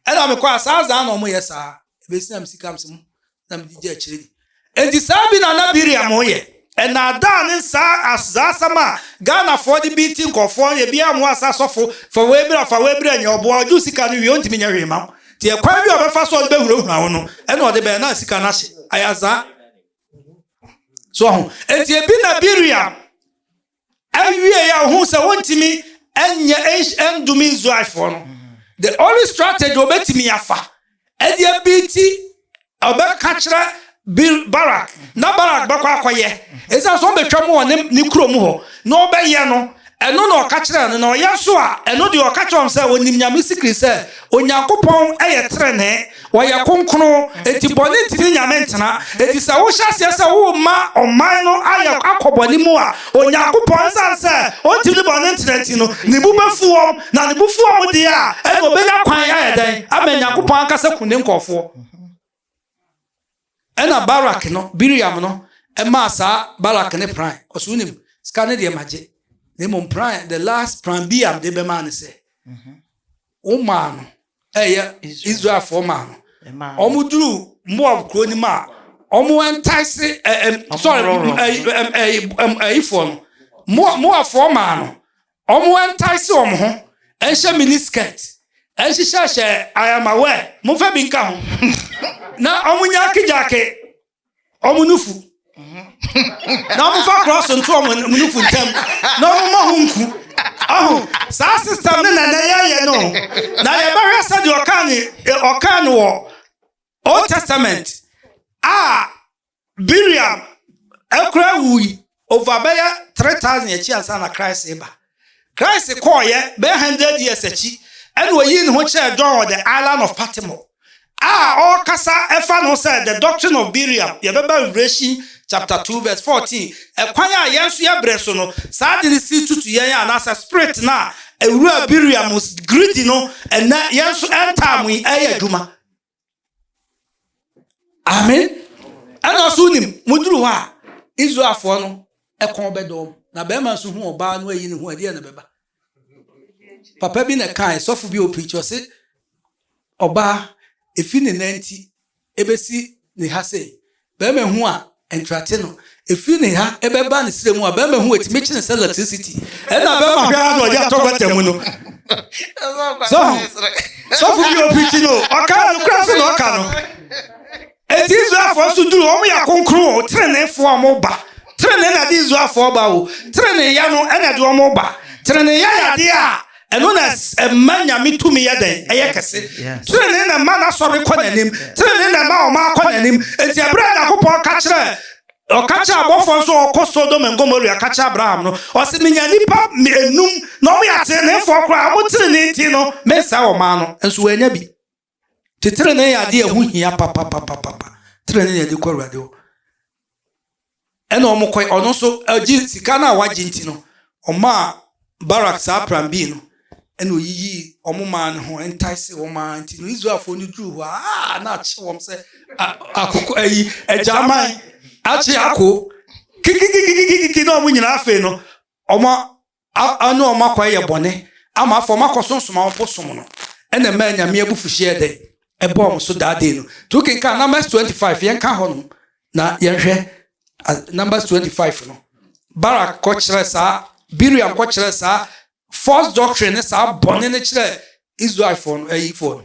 Speaker 1: Ɛna me kɔ a saa zaa na ɔmo yɛ saa ebesi na me sika mse mu na me de gye akyire ni enti saa bi na na Biriam yɛ ɛnaadaa ne saa as zaa asɛm a Ghana foɔ de beati nkorɔfoɔ yɛ biaa ɔmo as asɔfo fa wei bra fa wei bra nyɛ ɔboa ɔgye wo sika no wie ɔntumi nyɛ hwee ma wo nti ɛkwan bi a ɔbɛfa so ɔde bɛhurahura wo no ɛna ɔde bɛyɛ na sika no ahye ayɛ zaa so ho enti ebi na Biriam Ɛwiee a ohuu sɛ wontumi nyɛ ndome Israelfoɔ no, the only strategy obetumi afa ɛde abi ti ɔbɛka kyerɛ Barak na Barak bɛkɔ akɔyɛ ɛsan so ɔbɛtwa mu wɔ ne ne kuro mu hɔ na ɔbɛyɛ no ɛno na ɔka kyerɛ no na ɔyɛ nso a ɛno deɛ ɔka kyerɛ wɔn sɛ onim nyame sikiri sɛ onyankopɔn ɛyɛ trenee Wɔyɛ kronkron, enti bɔne ntumi nnya me ntena. Enti sɛ wohyɛ aseɛ sɛ worema ɔman no ayɛ akɔ bɔne mu a, Onyankopɔn, ɛsiane sɛ ɔntumi ne bɔne ntena nti no, ne bo bɛfu wɔn, na ne bo fu wɔn deɛ a, ɛnna ɔbɛnya kwan ayɛ dɛn? Ama Nyankopɔn ankasa akum ne nkurɔfoɔ. Ɛnna Barak no, Bileam no, maa saa Balak ne pran. Ɔse, wonim, sika no deɛ magye, na mmom pran, the last pran Bileam de bɛmaa no sɛ, womaa no, ɛyɛ Israelfoɔ maa no. Wɔduru Moab kuro no mu a, wɔntaese, sorry, ɛyifoɔ no, Moabfoɔ maa no, Wɔntase wɔn ho nhyɛ mini skirt nhyehyɛhyɛ I am aware momfa bi nka ho na wɔnyaakegyaake wɔn nufu na wɔmfa krɔso nto wɔn nufu ntam na wɔmmɔ ho nku ɔho saa system no na na yɛyɛ no na yɛbɛhwɛ sɛdeɛ ɔkaa no wɔ Old Testament a Bileam koraa wui over bɛyɛ three thousand akyi ansa na Christ reba. Christ kɔɔeɛ bɛyɛ hundred years akyi ɛna ɔyii ne ho kyerɛɛ John wɔ the island of Patmo a ɔrekasa ɛfa no sɛ the doctrine of Bileam yɛbɛba Revelation chapter two verse fourteen ɛkwan a yɛn nso yɛbrɛ so no saa de no si tutu yɛn a anaasɛ spirit no a ɛwura Bileam greedy no ɛnɛ yɛn nso ɛntaa mo yi ɛyɛ adwuma. Amen. Ɛna nso nim moduru hɔ a Israelfoɔ no ɛkɔn bɛdɔ wɔn na bɛrima nso hu ɔbaa no ayi ne ho ɛdeɛ na bɛba. Papa bi na ɛkae sɔfo bi ɔpirikyi ɔse ɔbaa efi ne nanti ebesi ne ha sei Bɛrima hu a, nkrate no, ɛfiri ne ha bɛba ne serɛ mu a, bɛrima hu a, ɛtumi kye ne sɛ electricity. Ɛna bɛrima hwɛ ara na ɔde atɔ gɔta mu no. So ho? Sɔfo bi ɔpirikyi no, ɔka no kora so na ɔka no. Eti Israelfoɔ nso duru, wɔn yɛ akonkron o, teneneefoɔ a wɔn ba. Tenenee na de Israelfoɔ ba o, teneneeya no na de wɔn ba. Teneneeya yɛ adeɛ a Ɛno na ɛma Nyame tumi yɛ dɛn? Ɛyɛ kɛse. Trenee na ɛma n'asɔre kɔ n'anim. Trenee na ɛma ɔma akɔ n'anim. Enti ɛberɛ a Nyankopɔn ka kyerɛ ɔka kyerɛ abɔfoɔ nso ɔkɔ Sodom and Gomorrah ka kyerɛ Abraham no, ɔse menya nipa enum na wɔn yɛ ateneneefoɔ koraa, wɔn trenee nti no mensɛe wɔn ano. Nso wɔannya bi. Nti trenee yɛ adeɛ a ɛho hia papapapapa. Trenee na yɛde kɔ Awurade hɔ. Ɛna wɔn kɔ ɔno nso agye sika no a wagye nti no, ɔmaa Barak saa prambii no ɛna oyiyii wɔn maa no ho entaese wɔn maa nti no Israelfoɔ no duru hɔ a na akye wɔn sɛ akoko ayi agyaman akye ako kikikikikiki na wɔn nyinaa afei no wɔn A Ɔne wɔn akɔ ayɛ bɔne, ama afei wɔn akɔ so nsoma wɔn bosom no, ɛna ɛmaa Nyame abufuhyeɛ yɛɛ dɛn? Ɛbɔɔ wɔn so daa dee no. Nti wo kenkan Numbers twenty five, yɛn ka hɔ nom na yɛn hwɛ Numbers twenty five no, Barak kɔ kyerɛ saa, Biriam kɔ kyerɛ saa false doctrine ne saa bɔne no kyerɛ Israelfoɔ no, ayifoɔ no.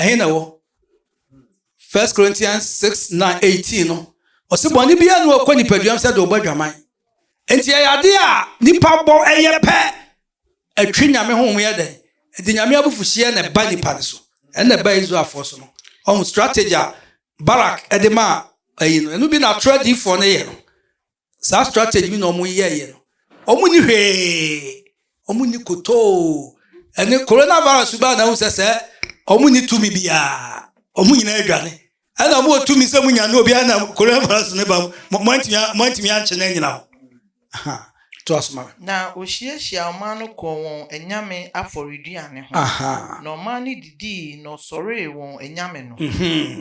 Speaker 1: Ɛhe na ɛwɔ? First Corinthians 6 9 18 no, ɔse bɔne biara ne wɔkɔ nipaduam sɛ de ɔbɔ adwaman. Enti ɛyɛ ade a nipa bɔ ɛyɛ pɛ ɛtwe nyame honhom yɛ dɛn? Ɛde nyame abufuhyeɛ na ɛba nipa no so. Ɛna ɛba Israelfoɔ so no. Ɔho strategy a Barak ɛde maa ɛyi no, ɛno bi na atoro adiifoɔ no yɛ no. Saa strategy bi na wɔn yɛɛyɛ no. Wɔn ni hwee. Wɔn ni kotoo. Ɛne corona virus baa na ehu sɛ sɛ wɔn ni tumi biara. Wɔn nyinaa adwane. Ɛna wɔn wɔ tumi sɛ mo nya no obiara na corona virus ne ba mo mo antumi mo antumi ankye na anyina ho. Aha. To aso ma me. Na ohyiahyia
Speaker 3: ɔman no kɔɔ wɔn anyame afɔreduane ho. Aha. Na ɔman no di. dii na ɔsɔree wɔn anyame no.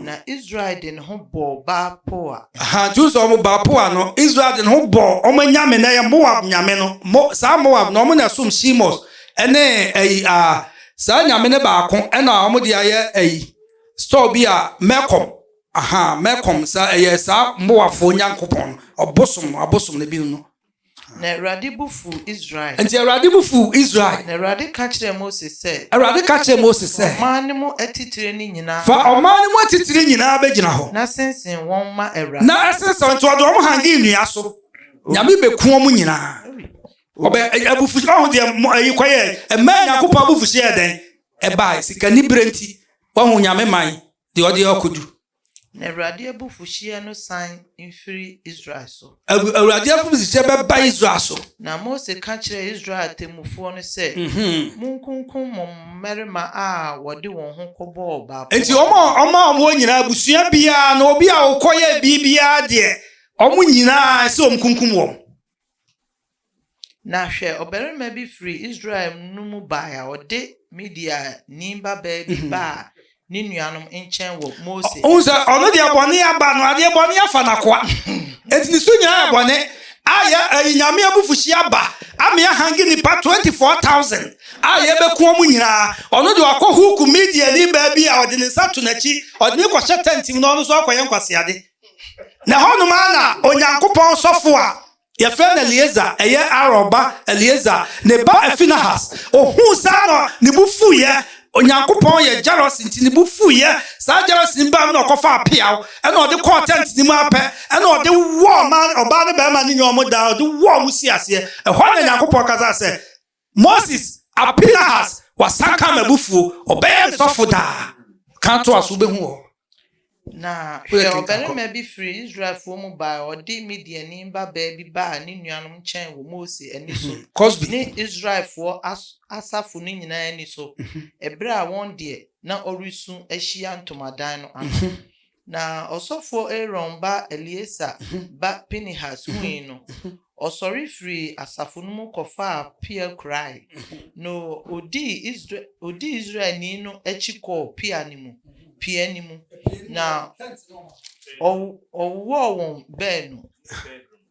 Speaker 3: Na Israel de ne ho bɔɔ
Speaker 1: Baal-Peor. Aha, Jews a wɔn Baal-Peor no, Israel de ne ho bɔɔ wɔn anyame na ɛyɛ Moab nyame no. Mo, saa Moab no, wɔn na ɛsom Chemosh ne ayi a, saa nyame no baako na wɔn de ayɛ ayi, store bi a Melkom, aha, Melkom, saa ɛyɛ saa Moabfoɔ nyankopɔn no, ɔbosom no, abosom no, ebinom no. Na Awurade
Speaker 3: bo fuu Israel. Enti Awurade bo fuu
Speaker 1: Israel. Na Awurade ka kyerɛɛ
Speaker 3: Mose sɛ. Awurade ka kyerɛɛ Mose sɛ. Fa ɔman
Speaker 1: no mu atitire no
Speaker 3: nyinaa. Fa ɔman no mu atitire
Speaker 1: nyinaa bɛgyina hɔ. Na sensen wɔn
Speaker 3: ma Awurade. Na ɛsensɛn wɔn nti wɔde
Speaker 1: wɔn hangi nnua so. Nyame bɛku wɔn nyinaa. Ɔbɛ abufuhyeɛ ɔho deɛ ɛyi kɔyɛ ɛmaa Nyankopɔn abufuhyeɛ yɛ dɛn ɛbaa sikanibere nti wɔho Nyame man deɛ ɔde ɔkodu Na Awurade
Speaker 3: abufuhyeɛ no san mfiri Israel so. Awurade abufuhyeɛ
Speaker 1: bɛba Israel so. Na Mose ka
Speaker 3: kyerɛɛ Israel atemmufoɔ no sɛ, Monkunkum mo mmarima a wɔde wɔn ho kɔbɔɔ Baal pɔ. Enti ɔmaa
Speaker 1: wɔn nyinaa, abusua biara na obi a ɔkɔyɛɛ biribiara deɛ, wɔn nyinaa ɛsɛ sɛ wɔkunkum wɔn. Na
Speaker 3: hwɛ, ɔbarima bi firii Israel no mu bae a ɔde Midiani babaa bi baa ne nuanom nkyɛn wɔ Mose anim. Wohu sɛ ɔno deɛ bɔne
Speaker 1: aba no, adeɛ bɔne afa n'akoa. Enti ne so nyinaa yɛ bɔne. A yɛ ɛyi Nyame abufuhyeɛ aba ama yɛahange nnipa 24,000 a yɛbɛku wɔn nyinaa. Ɔno deɛ wakɔ huuku Midiani baa bi a ɔde ne nsa to n'akyi, ɔde no kɔhyɛ tɛnt mu na ɔno nso akɔyɛ nkwaseade. Na ɛhɔnom ara na Onyankopɔn sɔfo a Yɛfrɛ no Eleasar, ɛyɛ Aaron ba Eleasar, ne ba Finehas. Ohuu saa na ne bo fuiɛ. Onyankopɔn yɛ jealous nti ne bo fuiɛ. Saa jealous no baam na ɔkɔfaa peaw na ɔde kɔɔ tent no mu ara pɛ na ɔde wɔɔ ɔbaa ne barima no nyinaa wɔn daa, ɔde wɔɔ wɔn sii aseɛ. Ɛhɔ na Nyankopɔn kasaa sɛ, Moses a Pinehas wasan ka m'abufuo, ɔbɛyɛ me sɔfo daa. Kan toa so, wobɛhu wɔ hɔ. Na
Speaker 3: hwɛ, ɔbarima bi firii Israelfoɔ mu baeɛ, ɔde Midiani babaa bi baa ne nuanom nkyɛn wɔ Mose ani so, ne Israelfoɔ asafo no nyinaa ani so, ɛberɛ a wɔn deɛ, na ɔresu ahyia ntomadan no ano. Na ɔsɔfoɔ Aaron ba Eleasar ba Pinehas hui no, ɔsɔre firii asafo no mu kɔfaa pea kurae, na ɔdii Israelni no akyi kɔɔ pea no mu, pea no mu, na ɔwowɔɔ wɔn baanu.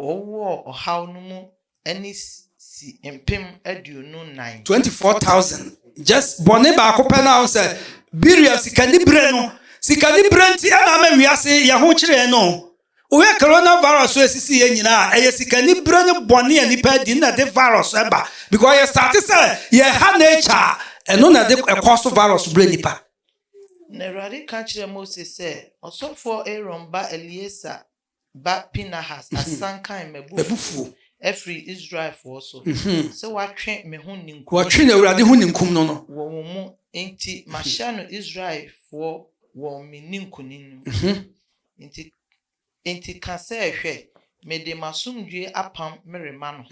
Speaker 3: Wɔwowɔɔ ɔhaw no mu ne si mpem aduonu nnan. 24000
Speaker 1: just bɔne baako pɛ na ɔsɛ Berea sika ni bere no sika ni bere nti ɛna ama wiase yɛ ho kyerɛ yɛn no wohwɛ corona virus so esisi yɛ nyinaa ɛyɛ sika ni bere ne bɔne a nipa adi na de virus ɛba because yɛ start sɛ yɛ ha nature a ɛno na ɛde ɛkɔ so virus bere nipa. Na Awurade
Speaker 3: ka kyerɛ Mose sɛ, Ɔsɔfoɔ Aaron ba Eleasa ba Pinahas asan kae m'abufuo afiri Israelfoɔ so, sɛ watwe me ho ninkum
Speaker 1: no wɔ wɔn mu,
Speaker 3: enti mahyɛ no Israelfoɔ wɔ me ninkunim no mu. Enti enti ka sɛ, 'Hwɛ, mede m'asomdwoeɛ apam merema no,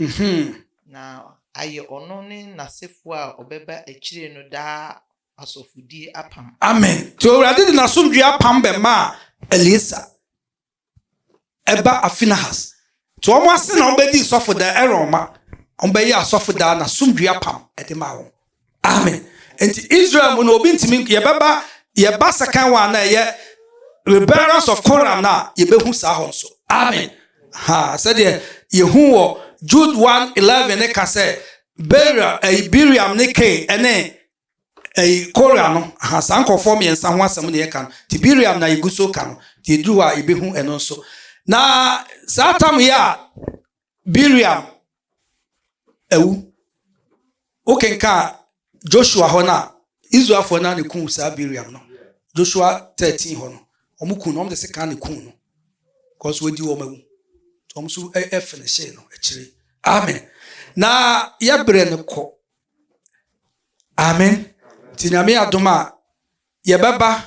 Speaker 3: na ayɛ ɔno ne n'asefoɔ a wɔbɛba akyire no daa Asɔfodie apam. Amen. Nti Awurade
Speaker 1: de n'asomdwoeɛ apam bɛmaa Eleasa ɛba Afinahas. Nti wɔn ase na wɔbɛdii sɔfodan Aaron ma. Wɔbɛyɛ asɔfodan na asomdwoeɛ apam ɛde maa wɔn. Amen. Nti Israel mu no obi ntumi yɛbɛba yɛba second one na ɛyɛ rebellions of Korah na yɛbɛhu saa hɔ nso. Amen. Ha sɛdeɛ yɛhu wɔ Jude 1:11 ne ka sɛ Beria ɛyi Biriam ne Kain ɛne Ɛyi, Kora no, aha, saa nkurɔfoɔ mmiɛnsa ho asɛm na yɛka no, nti Bileam na yɛgu so reka no, nti yɛduru hɔ a yɛbɛhu ɛno nso. Na saa tam yɛ a Bileam awu, wokenka Joshua hɔ no a, Israelfoɔ no a na ɛku saa Bileam no, Joshua 13 hɔ no, wɔn ku no, wɔn de sekan na ɛku no, because wɔadi wɔn awu, wɔn nso ɛfinihyee no akyire. Amen. Na yɛbrɛ no kɔ. Aame. Nti Nyame adom a, yɛbɛba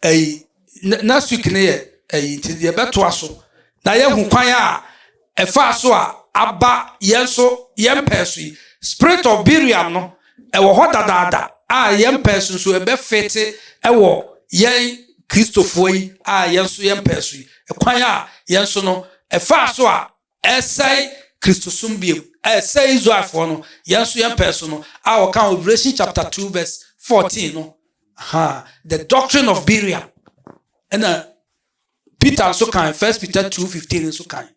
Speaker 1: ɛyi next week no yɛ ɛyi nti yɛbɛtoa so na yɛahu kwan a ɛfaa so a aba yɛn so yɛn pɛɛ so yi. Spirit of Biriam no, ɛwɔ hɔ dadaada a yɛn pɛɛ so nso ɛbɛfete ɛwɔ yɛn Kristofoɔ yi a yɛn nso yɛn pɛɛ so yi. Kwan a yɛn nso no ɛfaa so a ɛsɛe Kristosom bio, a ɛsɛe Israelfoɔ no, yɛn nso yɛn pɛɛ so no, a wɔka wɔ Revelation chapter two verse fourteen no, ha the doctrine of Belial, ɛna Peter nso kan First Peter two fifteen nso kan,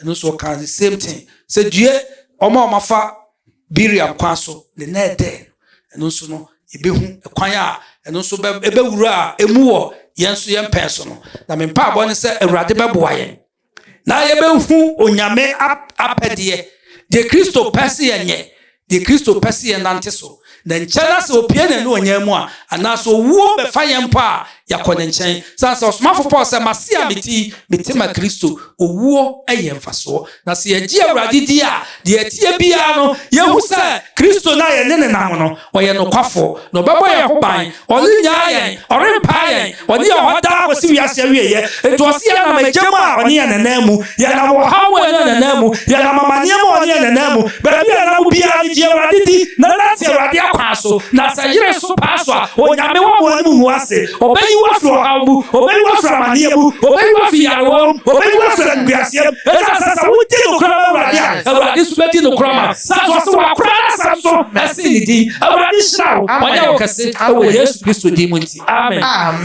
Speaker 1: ɛno nso ɔkan the same thing sɛ due wɔn a wɔafa Belial kwan so ne na ɛdɛ, ɛno nso no yɛbɛhu ɛkwan a ɛno nso ɛbɛwura a ɛmu wɔ yɛn nso yɛn pɛɛ so no, na me mpaebɔ ne sɛ Awurade bɛboa yɛn. na yɛbɛhu onyame apɛdeɛ deɛ kristo pɛ se yɛnyɛ deɛ kristo pɛ se yɛnante so na nkyɛ na sɛ opie ne ne ɔnyɛ mu a anaasɛ owuo bɛfa yɛn mpo a yɛakɔ ne nkyɛn sane sɛ ɔsomafo paul sɛ mase a meti mete ma kristo owuo yɛ mfasoɔ na sɛ yɛgye awurade di a Deɛ ɛteɛ biara no, yɛhu sɛ Kristo no a yɛne no nam no, ɔyɛ nokwafoɔ, na ɔbɛbɔ yɛn ho ban. Ɔrennyaa yɛn, ɔrempaa yɛn, ɔne yɛn wɔ hɔ daa kɔsi wiase awieeɛ. Enti ɔse yɛnam agya mu a, ɔne yɛn nanam mu, yɛnam ɔhaw mu a, ɔne yɛn nanam mu, yɛnam amaneɛ mu a, ɔne yɛn nanam mu. Baabi a yɛnam biara no, gye Awurade di, na nante Awurade akwan so, na sɛ yere so paa so a, Onyame wɔ mo anim ngu ase. Obeyi wo afiri ɔhaw mu, obeyi wo afiri amaneɛ mu, obeyi wo afiri nyarewa mu, obeyi wo afiri animguaseɛ mu, ɛsiane sɛ sɛ wodi nokorɛ ma Awurade a, Awurade nso bɛdi nokorɛ ama wo. Na to ase wakora n'asɛm so na si ne din. Awurade nhyira wo, wanyɛ wo kɛse wɔ Yesu Kristo din mu nti, amen.